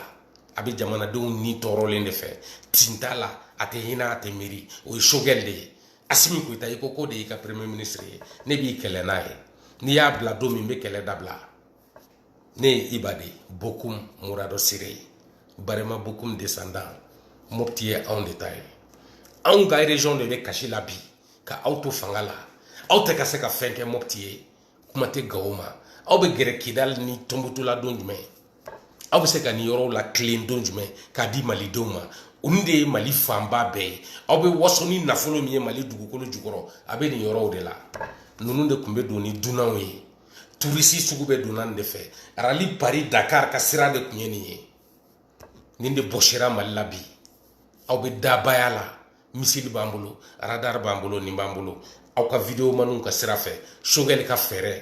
Speaker 1: a bɛ jamanadenw ni tɔɔrɔlen de fɛ tin t'a la a tɛ hinɛ a tɛ miiri o ye sogɛli de ye asimi goyita i ko k'o de y'i ka premier ministre ye ne b'i kɛlɛ n'a ye n'i y'a bila don min n bɛ kɛlɛ dabila ne ye iba de bokum muradɔ sire ye barema bokum descendant mopti ye anw de ta ye anw ka région de bɛ kasi la bi ka aw to fanga la aw tɛ ka se ka fɛn kɛ mɔpti ye kuma tɛ gawo ma aw bɛ gɛrɛ kidali ni tɔnbutu la don jumɛn aw bɛ se ka nin yɔrɔw latilen don jumɛn k'a di malidenw ma olu de ye mali fanba bɛɛ ye aw bɛ waso ni nafolo min ye mali dugukolo jukɔrɔ a bɛ nin yɔrɔw de la ninnu de tun bɛ don ni dunanw ye turisi sugu bɛɛ donna nin de fɛ rallye paris dakar ka sira de tun ye nin ye nin de bɔsira mali la bi aw bɛ dabaya la misili b'an bolo radar b'an bolo nin b'an bolo aw ka video maniw ka sira fɛ sogɛli ka fɛɛrɛ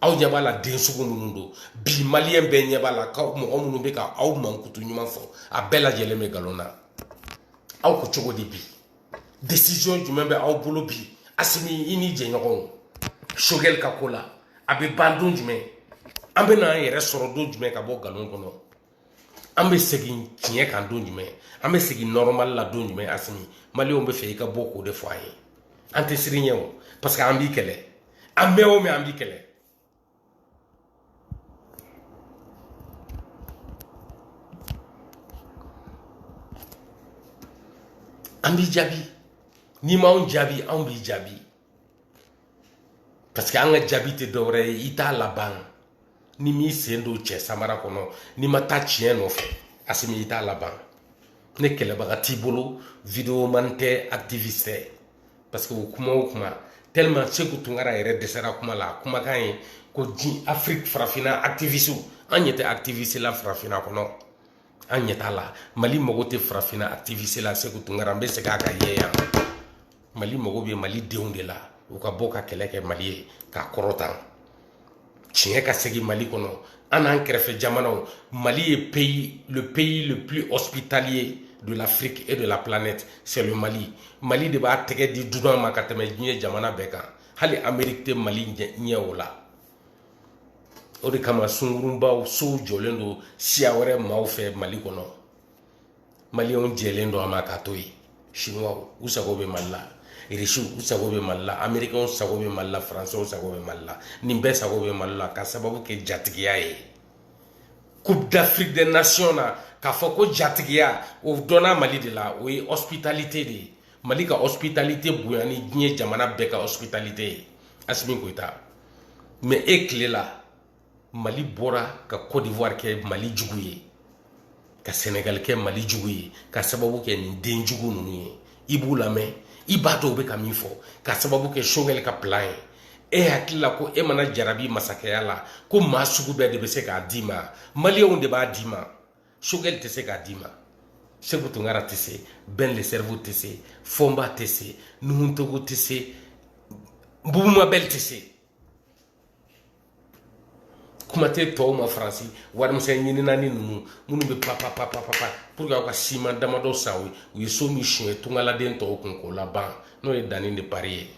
Speaker 1: aw ɲɛ b'a la den sugu minnu don bi maliyɛn bɛɛ ɲɛ b'a la ka mɔgɔ minnu bɛ ka aw mankutu ɲuman fɔ a bɛɛ lajɛlen bɛ nkalon na aw ko cogo di bi decision jumɛn bɛ aw bolo bi asimi i ni jɛɲɔgɔnw sogɛli ka ko la a bɛ ban don jumɛn an bɛ n'an yɛrɛ sɔrɔ don jumɛn ka bɔ nkalon kɔnɔ an bɛ segin tiɲɛ kan don jumɛn an bɛ segin nɔrɔmali la don jumɛn asimi maliyɛnw b'a fɛ i ka bɔ k'o de fɔ an ye an tɛ siran i ɲɛ o parce que an b'i kɛlɛ an mɛn o mɛn an b'i kɛlɛ an b'i jaabi n'i m'anw jaabi anw b'i jaabi parce que an ka jaabi tɛ dɔwɛrɛ ye i t'a laban n'i m'i sen don cɛ samara kɔnɔ n'i ma taa tiɲɛ nɔfɛ asimi i t'a laban ne kɛlɛbaga t'i bolo video man tɛ activiste tɛ parce que o kuma o kuma tellement seku tunkara yɛrɛ dɛsɛra kuma la kumakan ye ko di afiriki farafinna activiste an ɲɛ tɛ activiste la farafinna kɔnɔ an ɲɛ t'a la mali mago tɛ farafinna activiste la seku tunkara n bɛ segin a kan i ye yan mali mago bɛ mali denw de la u ka bɔ ka kɛlɛ kɛ mali ye k'a kɔrɔtan tiɲɛ ka segin mali kɔnɔ an n'an kɛrɛfɛ jamanaw mali ye pays le pays le plus hospitalier de l'afrique et de la planète c'est le mali mali de b'a tɛgɛ di dunan ma ka tɛmɛ diɲɛ jamana bɛɛ kan hali amerique tɛ mali ɲɛ o la o de kama sungurunbaw sow jɔlen don siya wɛrɛ maaw fɛ mali kɔnɔ maliyɛnw jɛlen don a ma k'a to yen siniwaw u sago bɛ mali la irisiw u sago bɛ mali la amerikɛnw sago bɛ mali la faransɛw sago bɛ mali la nin bɛɛ sago bɛ mali la ka sababu kɛ jatigiya ye coupe d'afrique des nations na k'a fɔ ko jatigiya o dɔnna mali de la o ye hospitalite de ye mali ka hospitalite bonya ni diɲɛ jamana bɛɛ ka hospitalite ye asimi koyita mais e tile la mali bɔra ka cote d'ivoire kɛ mali jugu ye ka senegal kɛ mali jugu ye ka sababu kɛ nin den jugu ninnu ye i b'u lamɛn i b'a dɔn u bɛ ka min fɔ ka sababu kɛ sogɛli ka plan ye e hakili la ko e mana jarabi masakɛya la ko maa sugu bɛɛ de bɛ se k'a d'i ma maliyɛnw de b'a d'i ma sogɛli tɛ se k'a d'i ma seku tunkara tɛ se ben le cerveau tɛ se fɔnba tɛ se nuhun togo tɛ se bubu mabɛli tɛ se kuma tɛ tɔw ma faransi warimisɛn ɲininanin ninnu minnu bɛ papapapapa pour que aw ka siman damadɔ san u u ye so min suɲɛ tungaladen tɔw kun k'o laban n'o ye dani de paris ye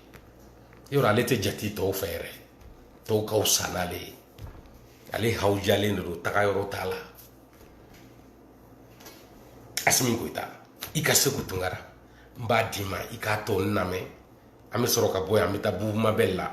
Speaker 1: yɔrɔ ale tɛ jate tɔw fɛ yɛrɛ tɔw ka fisa n'ale ye ale hawujalen de don taga yɔrɔ t'a la asimi goyita i ka seku tunkara n b'a d'i ma i k'a tɔ n lamɛn an bɛ sɔrɔ ka bɔ yan an bɛ taa bubu mabɛli la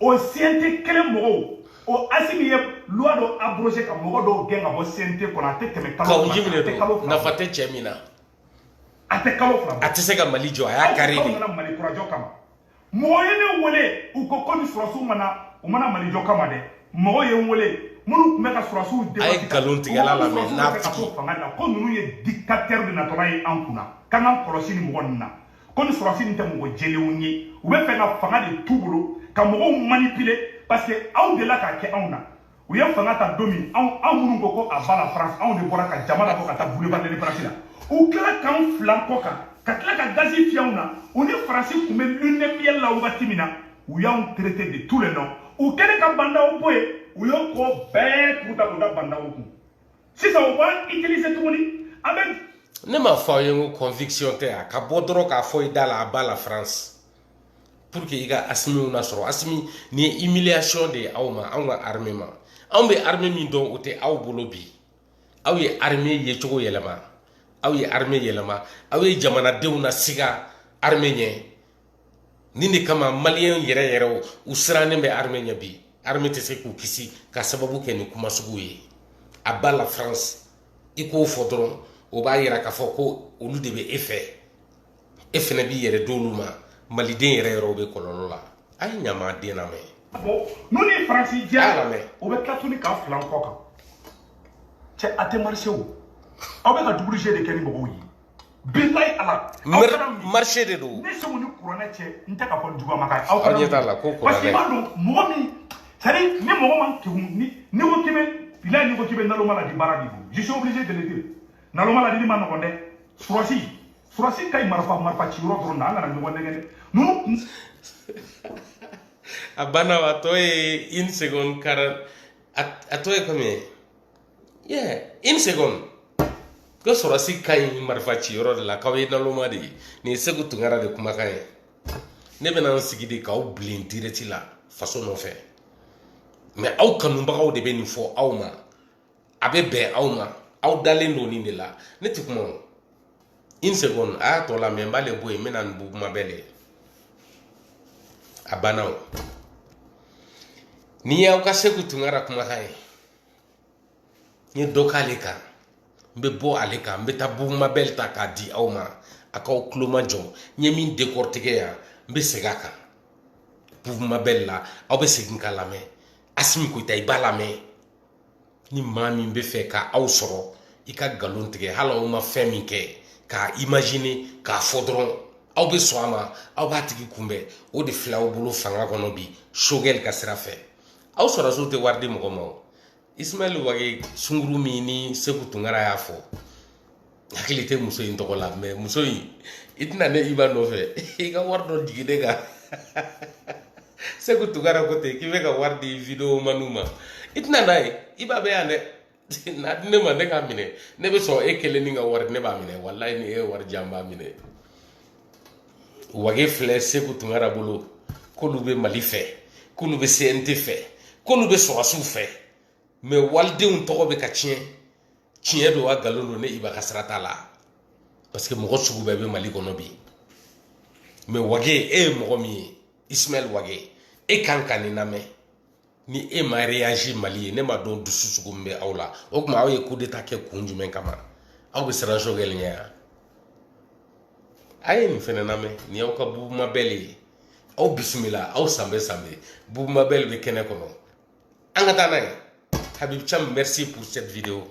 Speaker 3: o CNT kelen mɔgɔw o asimi ye loi dɔ abrogé ka mɔgɔ dɔw gɛn ka bɔ CNT kɔnɔ a tɛ tɛmɛ kalo fila kan a tɛ kalo fila nafa tɛ
Speaker 1: cɛ min na a
Speaker 3: tɛ kalo fila a tɛ se ka mali jɔ a y'a
Speaker 1: kari de aw nana mali kura jɔ kama
Speaker 3: mɔgɔ ye ne wele u ko ko nin sɔrasiw ma na u ma na mali jɔ kama dɛ mɔgɔ ye n wele minnu tun bɛ ka sɔrasiw de a ye nkalontigɛla
Speaker 1: lamɛn n'a tigi fanga la ko ninnu ye
Speaker 3: dictateur de natɔla ye an kunna k'an k'an kɔlɔsi nin mɔgɔ ninnu na ko nin sɔrasi nin tɛ mɔgɔ jɛlenw ye u bɛ fɛ ka fanga de t'u bolo ka mɔgɔw manipuler parce que aw delila k'a kɛ anw na u ye fanga ta don min anw anw minnu ko ko à bas la france anw de bɔra ka jama labɔ ka taa boulevard de l'indépendance la u tila k'anw filan kɔ kan ka tila ka gazi fiyɛ anw na u ni faransi tun bɛ lune de miel la wagati min na u y'anw traité de tous les noms u kɛlen ka ba ndaw bɔ yen u y'o ko bɛɛ tugu ta k'o da ba ndaw kun sisan u b'an utiliser tuguni an bɛ. ne m'a fɔ aw
Speaker 1: ye n ko conviction tɛ a ka bɔ dɔrɔn k'a fɔ i da la à bas la France pour que i ka asimiw lasɔrɔ asimi nin ye humiliation de ye aw ma anw ka armée ma anw bɛ armée min dɔn o tɛ aw bolo bi aw ye armée yecogo yɛlɛma aw ye armée yɛlɛma aw ye jamanadenw nasiga armée ɲɛ nin de kama maliyɛn yɛrɛ yɛrɛw u sirannen bɛ armée ɲɛ bi armée tɛ se k'u kisi ka sababu kɛ nin kuma sugu ye à bas la france i k'o fɔ dɔrɔn o b'a yira k'a fɔ ko olu de bɛ e fɛ e fɛnɛ b'i yɛrɛ d'olu ma maliden yɛrɛ yɛrɛw bɛ kɔlɔlɔ la a ye ɲamaden lamɛn n'u ni
Speaker 3: faransi jɛra o bɛ tila tuguni k'a filan kɔ kan cɛ a tɛ marché o aw bɛ ka double jeu de kɛ ni mɔgɔw ye bilayi ala marché
Speaker 1: de don ne seku ni kuranɛ
Speaker 3: cɛ n tɛ k'a fɔ juguya ma aw ɲɛ t'a la ko kuranɛ
Speaker 1: parce que i b'a dɔn mɔgɔ
Speaker 3: min c'est à dire ni mɔgɔ man kegun ni n'i ko k'i bɛ bilayi n'i ko k'i bɛ naloma ladi baara de don je suis obligé de le dire naloma ladi man nɔgɔn dɛ sɔrasi sɔrasi ka ɲi marifa marifa ci yɔrɔ dɔrɔn na an kana ɲɔgɔn nɛgɛn dɛ
Speaker 1: ninnu a banna a tɔ ye une seconde quarante a tɔ ye combien ye Ye une seconde. Ko sɔrɔsi ka ɲi marifa ci yɔrɔ de la k'aw ye naloma de ye nin ye seku tunkara de kumakan ye ne bɛna n sigi de k'aw bilen direct la faso nɔfɛ mɛ aw kanubagaw de bɛ nin fɔ aw ma a bɛ bɛn aw ma aw dalen don nin de la ne tɛ kuma o une seconde a y'a tɔ lamɛn n b'ale bɔ yen n bɛ na ni bubu mabɛli ye a banna o nin y'aw ka seku tunkara kumakan ye n ye dɔ k'ale kan n bɛ bɔ ale kan n bɛ taa bubu mabɛli ta k'a di aw ma a k'aw tulo majɔ n ye min décortiquer yan n bɛ segin a kan bubu mabɛli la aw bɛ segin k'a lamɛn asimi goyita i b'a lamɛn ni maa min bɛ fɛ ka aw sɔrɔ i ka nkalon tigɛ hali aw ma fɛn min kɛ k'a imajine k'a fɔ dɔrɔn aw bɛ sɔn a ma aw b'a tigi kunbɛn o de filɛ aw bolo fanga kɔnɔ bi sogɛli ka sira fɛ aw sɔrɔsiw tɛ wari di mɔgɔ ma o ismaɛl wage sunguru min ni seku tunkara y'a fɔ hakili tɛ muso in tɔgɔ la mɛ muso in i tɛ na ne iba nɔfɛ i ka wari dɔ jigin ne kan seku tunkara ko ten k'i bɛ ka wari di video maniw ma i tɛ na n'a ye iba bɛ yan dɛ n'a di ne ma ne k'a minɛ ne bɛ sɔn e kelennin ka wari ne b'a minɛ walayi ni e ye wari di an b'a minɛ wage filɛ seku tunkara bolo k'olu bɛ mali fɛ k'olu bɛ cnt fɛ k'olu bɛ sɔrɔsiw fɛ mɛ walidenw tɔgɔ bɛ ka tiɲɛ tiɲɛ don wa nkalon don ne iba ka sira t'a la parce que mɔgɔ sugu bɛɛ bɛ mali kɔnɔ bi mɛ wage e ye mɔgɔ min ye ismaɛl wage e kan ka nin lamɛn ni e ma reyaji mali ye ne m'a dɔn dusu sugu min bɛ aw la o tuma aw ye kudeta kɛ kun jumɛn kama aw bɛ siran sogɛli ɲɛ yan a ye nin fɛnɛ lamɛn nin y'aw ka bubu mabɛli ye aw bisimila aw sanbɛ sanbɛ bubu mabɛli bɛ kɛnɛ kɔnɔ an ka taa n'a ye habib cam merci pour cette vidéo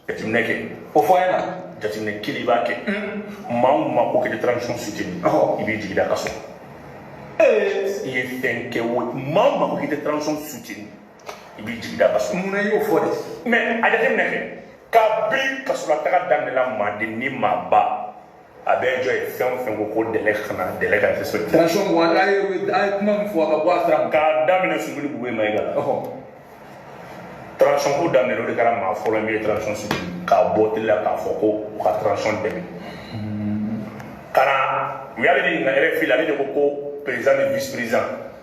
Speaker 3: jateminɛ kɛ o fɔ an ɲɛna jateminɛ kelen i b'a kɛ maa o maa ko k'i tɛ transition soutenir i b'i tigi da kaso i ye fɛn kɛ o maa o maa ko k'i tɛ transition soutenir i b'i tigi da kaso mun na i y'o fɔ de mɛ a jateminɛ kɛ kabini kasolataga daminɛna maaden ni maaba a bɛ jɔ ye fɛn o fɛn ko ko délai kana délai ka respecter transition wa n'a ye a ye kuma min fɔ a ka bɔ a sira ma k'a daminɛ sumeyilu bubɛyi mayiga la transition ko daminɛ o de kɛra maa fɔlɔ min ye transition soutenir ka bɔ tele la k'a fɔ ko u ka transition dɛmɛ ka na u y'ale de ɲininka rfi la ale de ko ko président ni vice président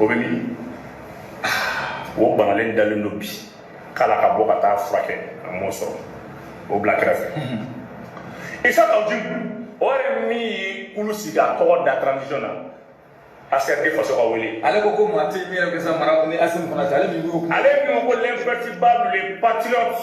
Speaker 3: o bɛ min o banalen dalen don bi k'ala ka bɔ ka taa furakɛ a m'o sɔrɔ o bila kɛrɛfɛ isa kawu jim o yɛrɛ min ye kulu sigi k'a tɔgɔ da transition na ACRT faso ka wele ale ko ko maa tɛ min yɛrɛ bɛ s'a mara ni asimi fana tɛ ale min y'o ale min ko l'imperturbable le patriote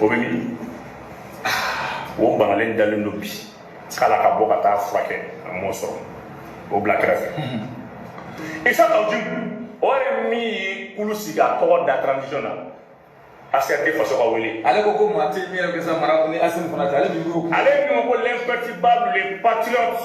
Speaker 3: o bɛ min o banalen dalen don bi k'ala ka bɔ ka taa furakɛ a m'o sɔrɔ o bila kɛrɛfɛ isa kawu jim o yɛrɛ min ye kulu sigi k'a tɔgɔ da transition na ACRT faso ka wele ale ko ko maa tɛ min yɛrɛ bɛ s'a mara ni asimi fana tɛ ale min ko ale min ko l'imperturbable le patriote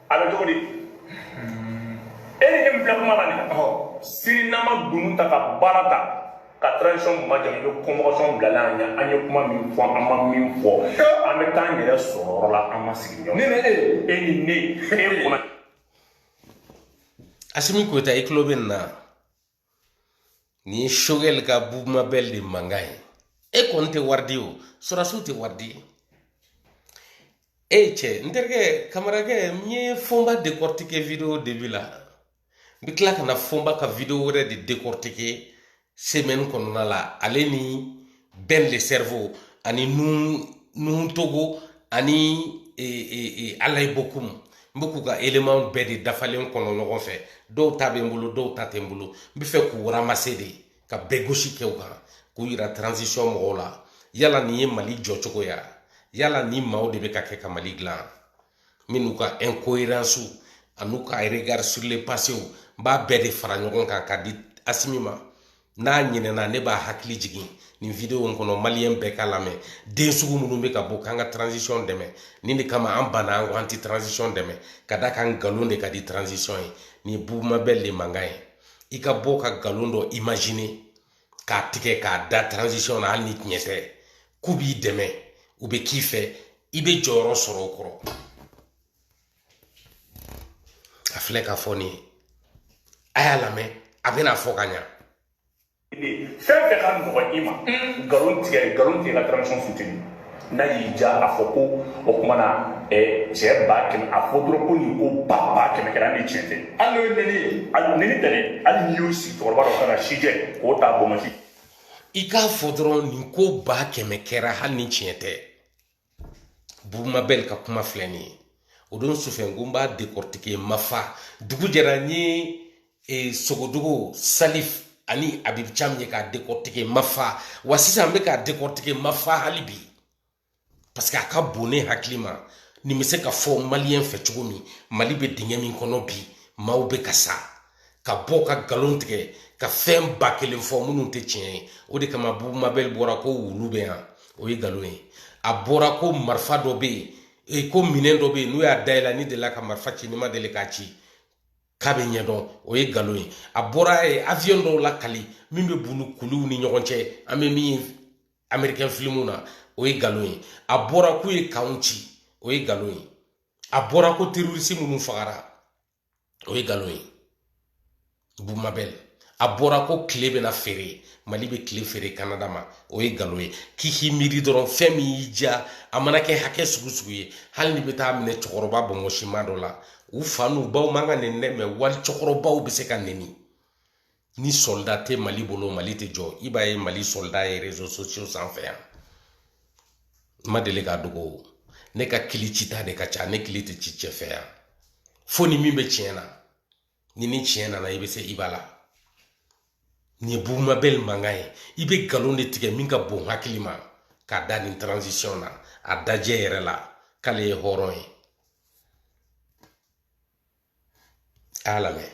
Speaker 3: a bɛ cogo di e ni ne min filɛ kuma la nin sini n'an ma dunun ta ka bara ta ka transition majamu i bɛ convocation bila la an ye an ye kuma min fɔ an ma min fɔ an bɛ taa an yɛrɛ sɔrɔ yɔrɔ la an ma sigi ɲɔgɔn ne ni e e ni ne e kɔnɔ
Speaker 1: asimi koyita i tulo bɛ nin na Nin ye sogɛli ka bubu mabɛl de mankan ye e kɔni tɛ wari di o sɔrɔdasiw tɛ wari di e cɛ n terikɛ kamarakɛ n ye fɔnba décortiquer video début la n bɛ tila ka na fɔnba ka video wɛrɛ de décortiquer semaine kɔnɔna la ale ni ben le cerveau ani nuhun togo ani e, e, e, alaye bokum n bɛ k'u ka élémentw bɛɛ de dafalen kɔnɔ ɲɔgɔn fɛ dɔw ta bɛ n bolo dɔw ta tɛ n bolo n bɛ fɛ k'u ramasser de ka bɛɛ gosi kɛ u kan k'u yira transition mɔgɔw la yala nin ye mali jɔcogo ya yala nin maaw de bɛ ka kɛ ka mali dilan minnu ka incohérence an'u ka regard sur le passéw n b'a bɛɛ de fara ɲɔgɔn kan ka di asimi ma n'a ɲinɛna ne b'a hakili jigin nin video in kɔnɔ maliyɛn bɛɛ ka lamɛn den sugu minnu bɛ ka bɔ k'an ka transition dɛmɛ nin de kama an banna an ko an tɛ transition dɛmɛ ka da kan nkalon de ka di transition ye nin ye bubu mabɛl de mankan ye i ka bɔ ka nkalon dɔ imaginer k'a tigɛ k'a da transition na hali ni tiɲɛ tɛ k'u b'i dɛmɛ u bɛ k'i fɛ i bɛ jɔyɔrɔ sɔrɔ o kɔrɔ a filɛ ka fɔ nin ye a y'a lamɛn a bɛna fɔ ka
Speaker 3: ɲa fɛn fɛn ka nɔgɔ i ma nkalon tigɛ nkalon tigɛ ka transition futeni n'a y'i ja a fɔ ko o kuma na cɛ ba kɛmɛ a fɔ dɔrɔn ko nin ko ba ba kɛmɛ kɛra ni tiɲɛ tɛ hali n'o ye nɛni ye hali nɛni tɛ dɛ hali n'i y'o sigi cɛkɔrɔba dɔ kan a si jɛ k'o t'a bonbonsi i k'a
Speaker 1: fɔ dɔrɔn nin ko ba kɛmɛ kɛra hali ni tiɲɛ tɛ bubu mabɛl ka kuma filɛ nin ye o don sufɛ n ko n b'a dekɔrɔtike n ma fa dugu jɛra n ye e, sogodogo salif ani abibu cam ye k'a dekɔrɔtike n ma fa wa sisan n bɛ k'a dekɔrɔtike n ma fa hali bi parce que a ka bon ne hakili ma nin bɛ se ka fɔ maliyɛn fɛ cogo min mali bɛ dingɛ min kɔnɔ bi maaw bɛ ka sa ka bɔ ka nkalon tigɛ ka fɛn ba kelen fɔ minnu tɛ tiɲɛ ye o de kama bubu mabɛli bɔra ko wulu bɛ yan o ye nkalon ye a bɔra ko marifa dɔ bɛ yen e ko minɛn dɔ bɛ yen n'u y'a dayɛlɛ n'i delila ka marifa ci n'i ma deli k'a ci k'a bɛ ɲɛdɔn o ye nkalon ye a bɔra ka aviyɔn dɔw lakali min bɛ boli kuluw ni ɲɔgɔn cɛ an bɛ min ye amerikɛn filimu na o ye nkalon ye a bɔra k'u ye kanw ci o ye nkalon ye a bɔra ko terorisi minnu fagara o ye nkalon ye bubu mabɛl a bɔra ko tile bɛna feere mali bɛ tile feere kanada ma o ye nkalon ye k'i k'i miiri dɔrɔn fɛn min y'i diya a mana kɛ hakɛ sugu sugu ye hali n'i bɛ taa minɛ cɛkɔrɔba bɔnmɔsima dɔ la u fa n'u baw man ka nɛni dɛ mɛ wali cɛkɔrɔbaw bɛ se ka nɛni ni sɔlida tɛ mali bolo mali tɛ jɔ i b'a ye mali sɔlida ye rezo sosiyo sanfɛ yan n ma deli k'a dogo ne ka kili cita de ka ca ne kili tɛ ci cɛ fɛ yan fo ni min bɛ tiɲɛ na ni ni tiɲɛ nana i bɛ se i b'a la nin ye bubu mabɛli mankan ye i bɛ nkalon de tigɛ min ka bon hakili ma k'a da nin transition na a dajɛ yɛrɛ la k'ale ye hɔrɔn ye a y'a lamɛn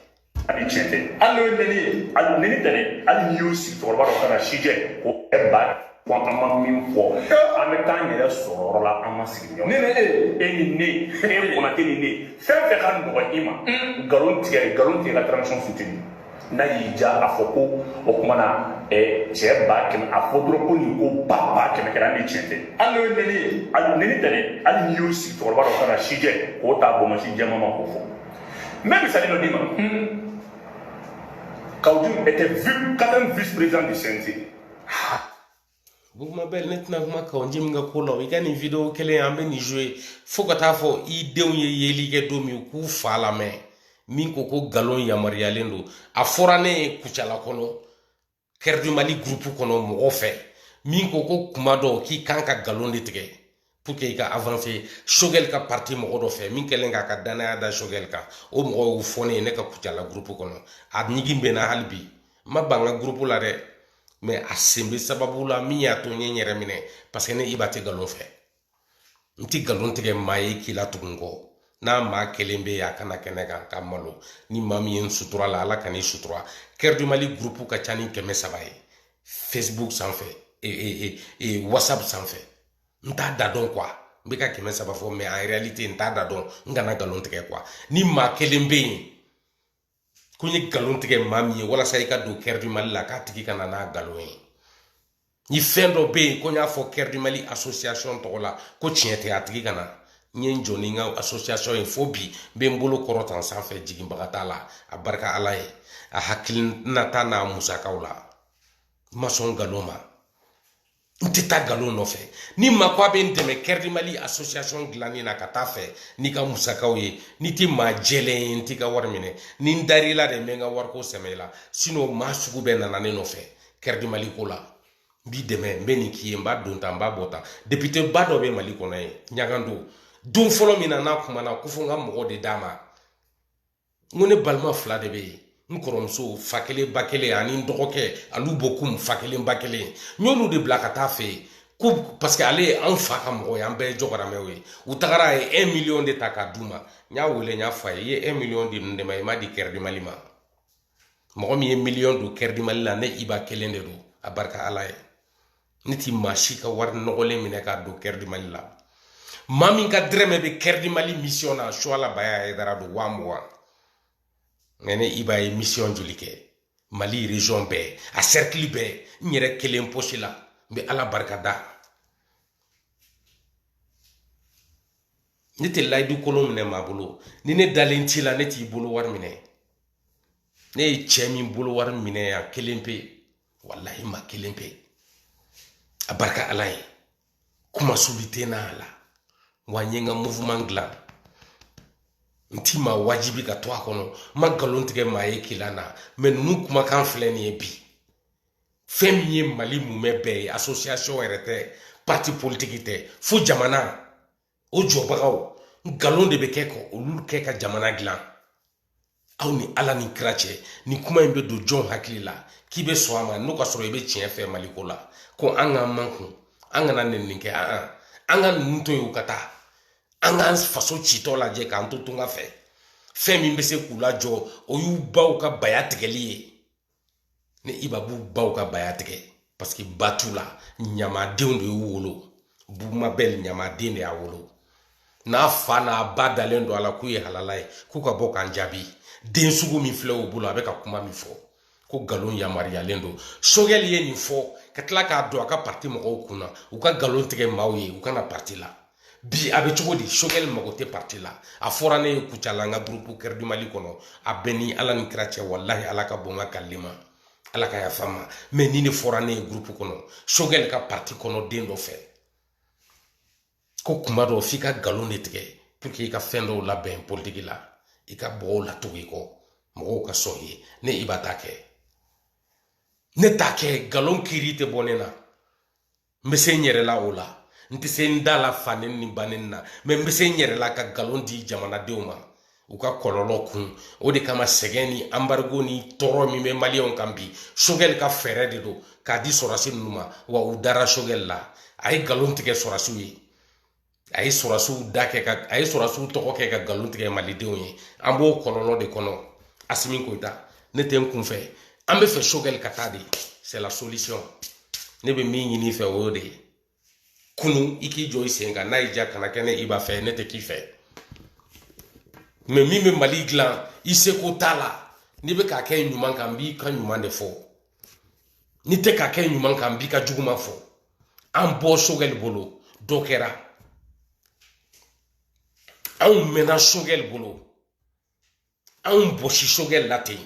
Speaker 1: ani tiɲɛ
Speaker 3: tɛ hali n'o ye nɛni ye hali nɛni tɛ dɛ hali n'i y'o sigi cɛkɔrɔba dɔ kana si jɛ ko ɛ ba ko an ma min fɔ an bɛ taa an yɛrɛ sɔrɔ yɔrɔ la an ma sigi ɲɔgɔn ne ni e e ni ne e kɔnate ni ne fɛn fɛn ka nɔgɔ i ma nkalon tigɛ nkalon tigɛ ka transition soutenir n'a y'i diya a fɔ ko o kuma na eh, cɛ ba kɛmɛ a fɔ dɔrɔn ko nin ko ba ba kɛmɛ kɛra ni tiɲɛ tɛ hali n'o ye neni ye hali neni tɛ dɛ hali n'i y'o sigi cɛkɔrɔba dɔ ka na si jɛ k'o ta bɔnbɔn si jɛman ma k'o fɔ n bɛ misali dɔ d'i ma Kaou Djim était quatrième vice-président du CNT. Bubu
Speaker 1: Mabɛl ne tɛna kuma Kaou Djim nin ka ko la i ka nin video kelen an bɛ nin jouer fo ka taa fo i denw ye yeli kɛ don min k'u fa lamɛn min ko ko nkalon yamaruyalen don a fɔra ne ye kucala kɔnɔ Cœur du Mali gurupu kɔnɔ mɔgɔ fɛ min ko ko kuma dɔw k'i kan ka nkalon de tigɛ pour que i ka avancer Choguel ka parti mɔgɔ dɔ fɛ min kɛlen k'a ka dannaya da Choguel kan o mɔgɔ y'o fɔ ne ye ne ka kucala groupe kɔnɔ a ɲigin bɛ na hali bi n ma ban n ka groupe la dɛ mɛ a sen bɛ sababu la min y'a to n ye n yɛrɛ minɛ parce que ne iba tɛ nkalon fɛ n tɛ nkalon tigɛ maa ye k'i la tugu n kɔ n'a maa kelen bɛ yen a ka na kɛnɛ kan ka n malo ni maa min ye n sutura la ala kan'i sutura Cœur du Mali groupe ka ca ni kɛmɛ saba ye facebook sanfɛ e, e, e, e, whatsapp sanfɛ n t'a da dɔn kuwa n bɛ ka kɛmɛ saba fɔ mais en réalité n t'a da dɔn n kana nkalon tigɛ kuwa ni maa kelen bɛ yen ko n ye nkalon tigɛ maa min ye walasa i ka don cœur du mali la k'a tigi kana n'a nkalon ye ni fɛn dɔ bɛ yen ko n y'a fɔ cœur du mali asosiyasɔn tɔgɔ la ko tiɲɛ tɛ a tigi kana n ye n jɔ ni n ka asosiyasɔn ye fo bi n bɛ n bolo kɔrɔta sanfɛ jiginbaga t'a la a barika ala ye a hakilinata n'a musakaw la n ma sɔn nkalon ma n tɛ taa nkalon nɔfɛ ni maa ko a bɛ n dɛmɛ cœur du mali association dilanni na ka taa fɛ n'i ka musakaw ye n'i tɛ maa jɛlen ye n t'i ka wari minɛ ni n dar'i la de n bɛ n ka wariko sɛmɛ i la sinɔn maa sugu bɛɛ nana ne nɔfɛ cœur du mali ko la n b'i dɛmɛ n bɛ nin k'i ye n b'a don tan n b'a bɔ tan depiteba dɔ bɛ mali kɔnɔ yen ɲagando don fɔlɔ min na n'a kumana ko fo n ka mɔgɔ de d'a ma n ko ne balima fila de bɛ yen n kɔrɔmuso fa kelen ba kelen ani n dɔgɔkɛ olu bɔ kun fa kelen ba kelen n y'olu de bila ka taa fɛ yen ko paseke ale ye anw fa ka mɔgɔ ye an bɛɛ ye jɔgɔramɛw ye u tagara a ye un miliyɔn de ta k'a d'u ma n y'a wele n y'a fɔ a ye i ye un miliyɔn di ninnu de ma i m'a di cœur du mali ma mɔgɔ min ye miliyɔn don cœur du mali la ne iba kelen de don a barika ala ye ne ti maa si ka wari nɔgɔlen minɛ k'a don cœur du mali la maa min ka dɛrɛmɛ bɛ cœur du mali misiyɔn na suwala bayaya hayidara don waa mugan mɛ ne iba ye misiyɔn joli kɛ mali region bɛɛ a sɛrikili bɛɛ n yɛrɛ kelen posi la n bɛ ala barika da ne tɛ layidu kolon minɛ maa bolo ni ne dalen t'i la ne t'i bolo wari minɛ ne ye cɛ min bolo wari minɛ yan kelen pe walahi maa kelen pe a barika ala ye kuma subi tɛ n'a la wa n ye n ka mouvement dilan n ti maa wajibi ka to a kɔnɔ n ma nkalon tigɛ maa ye kila na mɛ ninnu kumakan filɛ nin ye bi fɛn min ye mali mumɛ bɛɛ ye association yɛrɛ tɛ parti politiki tɛ fo jamana o jɔbagaw nkalon de bɛ kɛ ko olu kɛ ka jamana dilan aw ni ala ni kira cɛ ni kuma in bɛ don jɔn hakili la k'i bɛ sɔn a ma n'o ka sɔrɔ i bɛ tiɲɛ fɛ mali ko la ko an k'an makun an kana nɛni kɛ an an ka ninnu to yen u ka taa an k'an faso citɔ lajɛ k'an to tunga fɛ fɛn min bɛ se k'u lajɔ o y'u baw ka baya tigɛli ye ni iba b'u baw ka baya tigɛ paseke ba t'u la ɲamadenw de y'u wolo bubu mabɛl ɲamaden de y'a wolo n'a fa n'a ba dalen don a la k'u ye halala ye k'u ka bɔ k'an jaabi den sugu min filɛ u bolo a bɛ ka kuma min fɔ ko nkalon yamaruyalen don sogɛli ye nin fɔ ka tila k'a don a ka pati mɔgɔw kunna u ka nkalon tigɛ maaw ye u ka na pati la bi a bɛ cogo di sogɛli mago tɛ pati la a fɔra ne ye kucala n ka gurupu kɛrɛdi mali kɔnɔ a bɛ n ni ala ni kira cɛ walahi ala ka bon n ka kalili ma ala ka yafa n ma mɛ nin de fɔra ne ye gurupu kɔnɔ sogɛli ka pati kɔnɔ den dɔ fɛ ko kuma dɔw f'i ka nkalon de tigɛ pour que i ka fɛn dɔw labɛn politiki la i ka mɔgɔw latugu i kɔ mɔgɔw ka sɔn i ye ne iba t'a kɛ ne t'a kɛ nkalon kiri tɛ bɔ ne na n bɛ se n yɛrɛ la o la n tɛ se n da la fa neni ni ba neni na mɛ n bɛ se n yɛrɛ la ka nkalon di jamanadenw ma u ka kɔlɔlɔ kun o de kama sɛgɛn ni anbarigo ni tɔɔrɔ min bɛ maliyɛnw kan bi sogɛli ka fɛɛrɛ de don k'a di sɔrɔsi ninnu ma wa u dara sogɛli la a ye nkalon tigɛ sɔrɔsiw ye a ye sɔrɔsiw da kɛ ka a ye sɔrɔsiw tɔgɔ kɛ ka nkalon tigɛ malidenw ye an b'o kɔlɔlɔ de kɔnɔ asimi koyita ne tɛ n kunfɛ an b'a fɛ sogɛli ka taa de c'est la solution ne bɛ min ɲini i fɛ o y'o de ye kunun i k'i jɔ i sen kan n'a y'i diya kana kɛ ne iba fɛ ne tɛ k'i fɛ mɛ min bɛ mali dilan i seko t'a la n'i bɛ k'a kɛ ɲuman kan n b'i ka ɲuman de fɔ n'i tɛ k'a kɛ ɲuman kan n b'i ka juguman fɔ an bɔ sogɛli bolo dɔ kɛra anw mɛnna sogɛli bolo anw bɔsi sogɛli la ten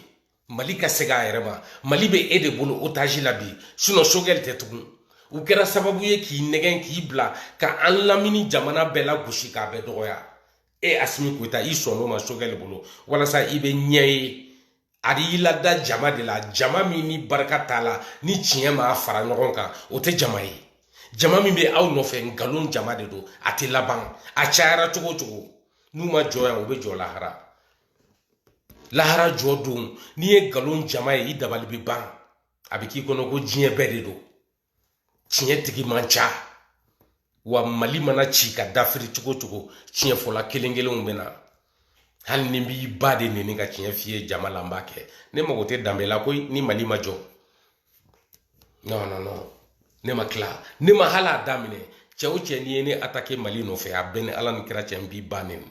Speaker 1: mali ka se k'a yɛrɛ ma mali bɛ e de bolo otazi la bi sinɔn sogɛli tɛ tugun u kɛra sababu ye k'i nɛgɛn k'i bila ka an lamini jamana bɛɛ lagosi k'a bɛɛ dɔgɔya e asimi koyita i sɔnn'o ma sogɛli bolo walasa i bɛ ɲɛ ye a y'i lada jama de la jama min ni barika t'a la ni tiɲɛ m'a fara ɲɔgɔn kan o tɛ jama ye jama min bɛ aw nɔfɛ nkalon jama de don a tɛ laban a cayara cogo o cogo n'u ma jɔ yan u bɛ jɔ lahara lahara jɔ don n'i ye nkalon jama ye i dabali bɛ ban a bɛ k'i kɔnɔ ko diɲɛ bɛɛ de don tiɲɛ tigi man ca wa mali mana ci ka dafiri cogo o cogo tiɲɛ fɔla kelen kelenw bɛ na hali ni n b'i ba de neni ka tiɲɛ f'i ye jama la n b'a kɛ ne mago tɛ danbe la koyi ni mali ma jɔ non non non ne ma tila ne ma hali a daminɛ cɛ o cɛ n'i ye ne atake mali nɔfɛ a bɛ n ni ala ni kira cɛ n b'i ba neni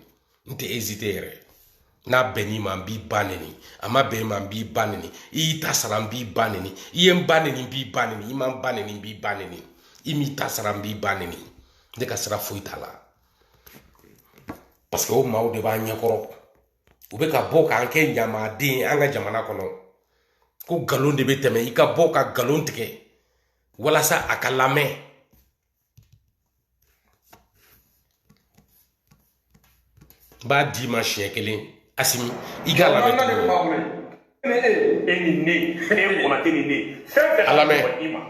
Speaker 1: n tɛ ezite yɛrɛ n'a bɛnn'i ma n b'i ba neni a ma bɛn i ma n b'i ba neni i y'i ta sara n b'i ba neni i ye n ba neni n b'i ba neni i ma n ba neni n b'i ba neni i m'i ta sara n b'i ba neni ne ka sira foyi t'a la paseke o maaw de b'an ɲɛkɔrɔ u bɛ ka bɔ k'an kɛ ɲamaden an ka jamana kɔnɔ ko nkalon de bɛ tɛmɛ i ka bɔ ka nkalon tigɛ walasa a ka lamɛn n b'a d'i ma siɲɛ kelen asimi i k'a lamɛn
Speaker 3: e ni ne e kɔnate ni ne fɛn fɛn ka lamɛn i ma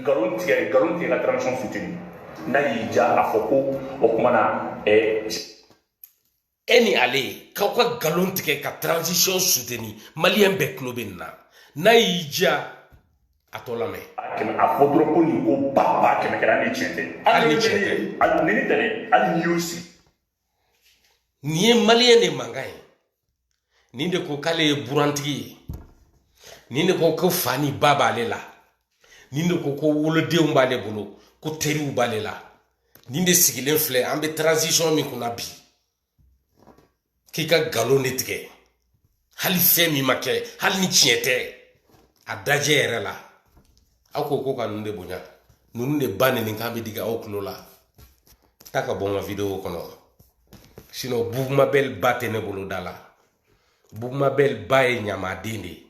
Speaker 3: nkalon tigɛ nkalon tigɛ ka transition suteni n'a y'i diya a fɔ ko o kuma na ɛɛ
Speaker 1: e ni ale k'aw ka nkalon tigɛ ka transition suteni maliyɛn bɛɛ tulo bɛ nin na n'a y'i diya a tɔ lamɛn a fɔ dɔrɔn ko
Speaker 3: nin ko ba ba kɛmɛ kɛra ni tiɲɛ tɛ hali ni tiɲɛ tɛ
Speaker 1: hali ni tɛ dɛ hali
Speaker 3: n'i y'o sigi
Speaker 1: nin ye maliyɛn de mankan ye nin de ko k'ale ye burantigi ye nin de ko ko fa ni ba b'ale la nin de ko ko wolodenw b'ale bolo ko teriw b'ale la nin de sigilen filɛ an bɛ transition min kunna bi k'i ka nkalon de tigɛ hali fɛn min ma kɛ hali ni tiɲɛ tɛ a dajɛ yɛrɛ la aw ko ko ka ninnu de bonya ninnu de ba nenikan bɛ digi aw tulo la taa ka bɔ n ka video kɔnɔ sinɔn bugumabɛli ba tɛ ne bolo da la bugumabɛli ba ye ɲamaden de ye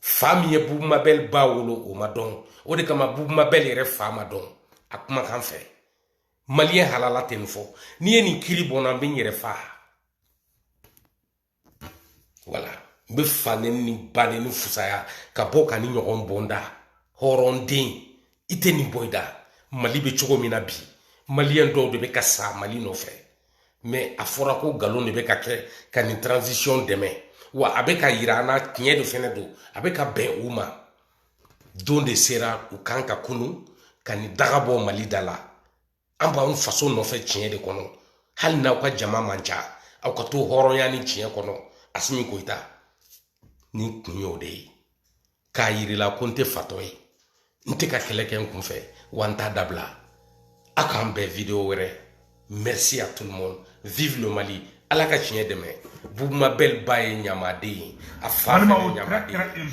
Speaker 1: fa min ye bubu mabɛli ba wolo o ma dɔn o de kama bubu mabɛli yɛrɛ fa ma dɔn a kumakan fɛ maliyɛn halala tɛ nin fɔ n'i ye nin kiri bɔ n na n bɛ n yɛrɛ fa wala n bɛ fa neni ba neni fusaya ka bɔ ka nin ɲɔgɔn bɔ n da hɔrɔnden i tɛ nin bɔ i da mali bɛ cogo min na bi maliyɛn dɔw de bɛ ka sa mali nɔfɛ mɛ a fɔra ko nkalon de bɛ ka kɛ ka nin transition dɛmɛ wa a bɛ k'a yira an na tiɲɛ de fɛnɛ don a bɛ ka bɛn u ma don de sera u kan ka kunu ka nin daga bɔ mali da la an b'an faso nɔfɛ tiɲɛ de kɔnɔ hali n'aw ka jama man ca aw ka to hɔrɔnya ni tiɲɛ kɔnɔ asimi koyita nin kun y'o de ye k'a yir'i la ko n tɛ fatɔ ye n tɛ ka kɛlɛ kɛ n kun fɛ wa n t'a dabila a k'an bɛn video wɛrɛ merci à tout le monde vive le mali ala ka tiɲɛ dɛmɛ bubu mabɛl ba ye ɲamaden ye a fa fana ye ɲamaden ye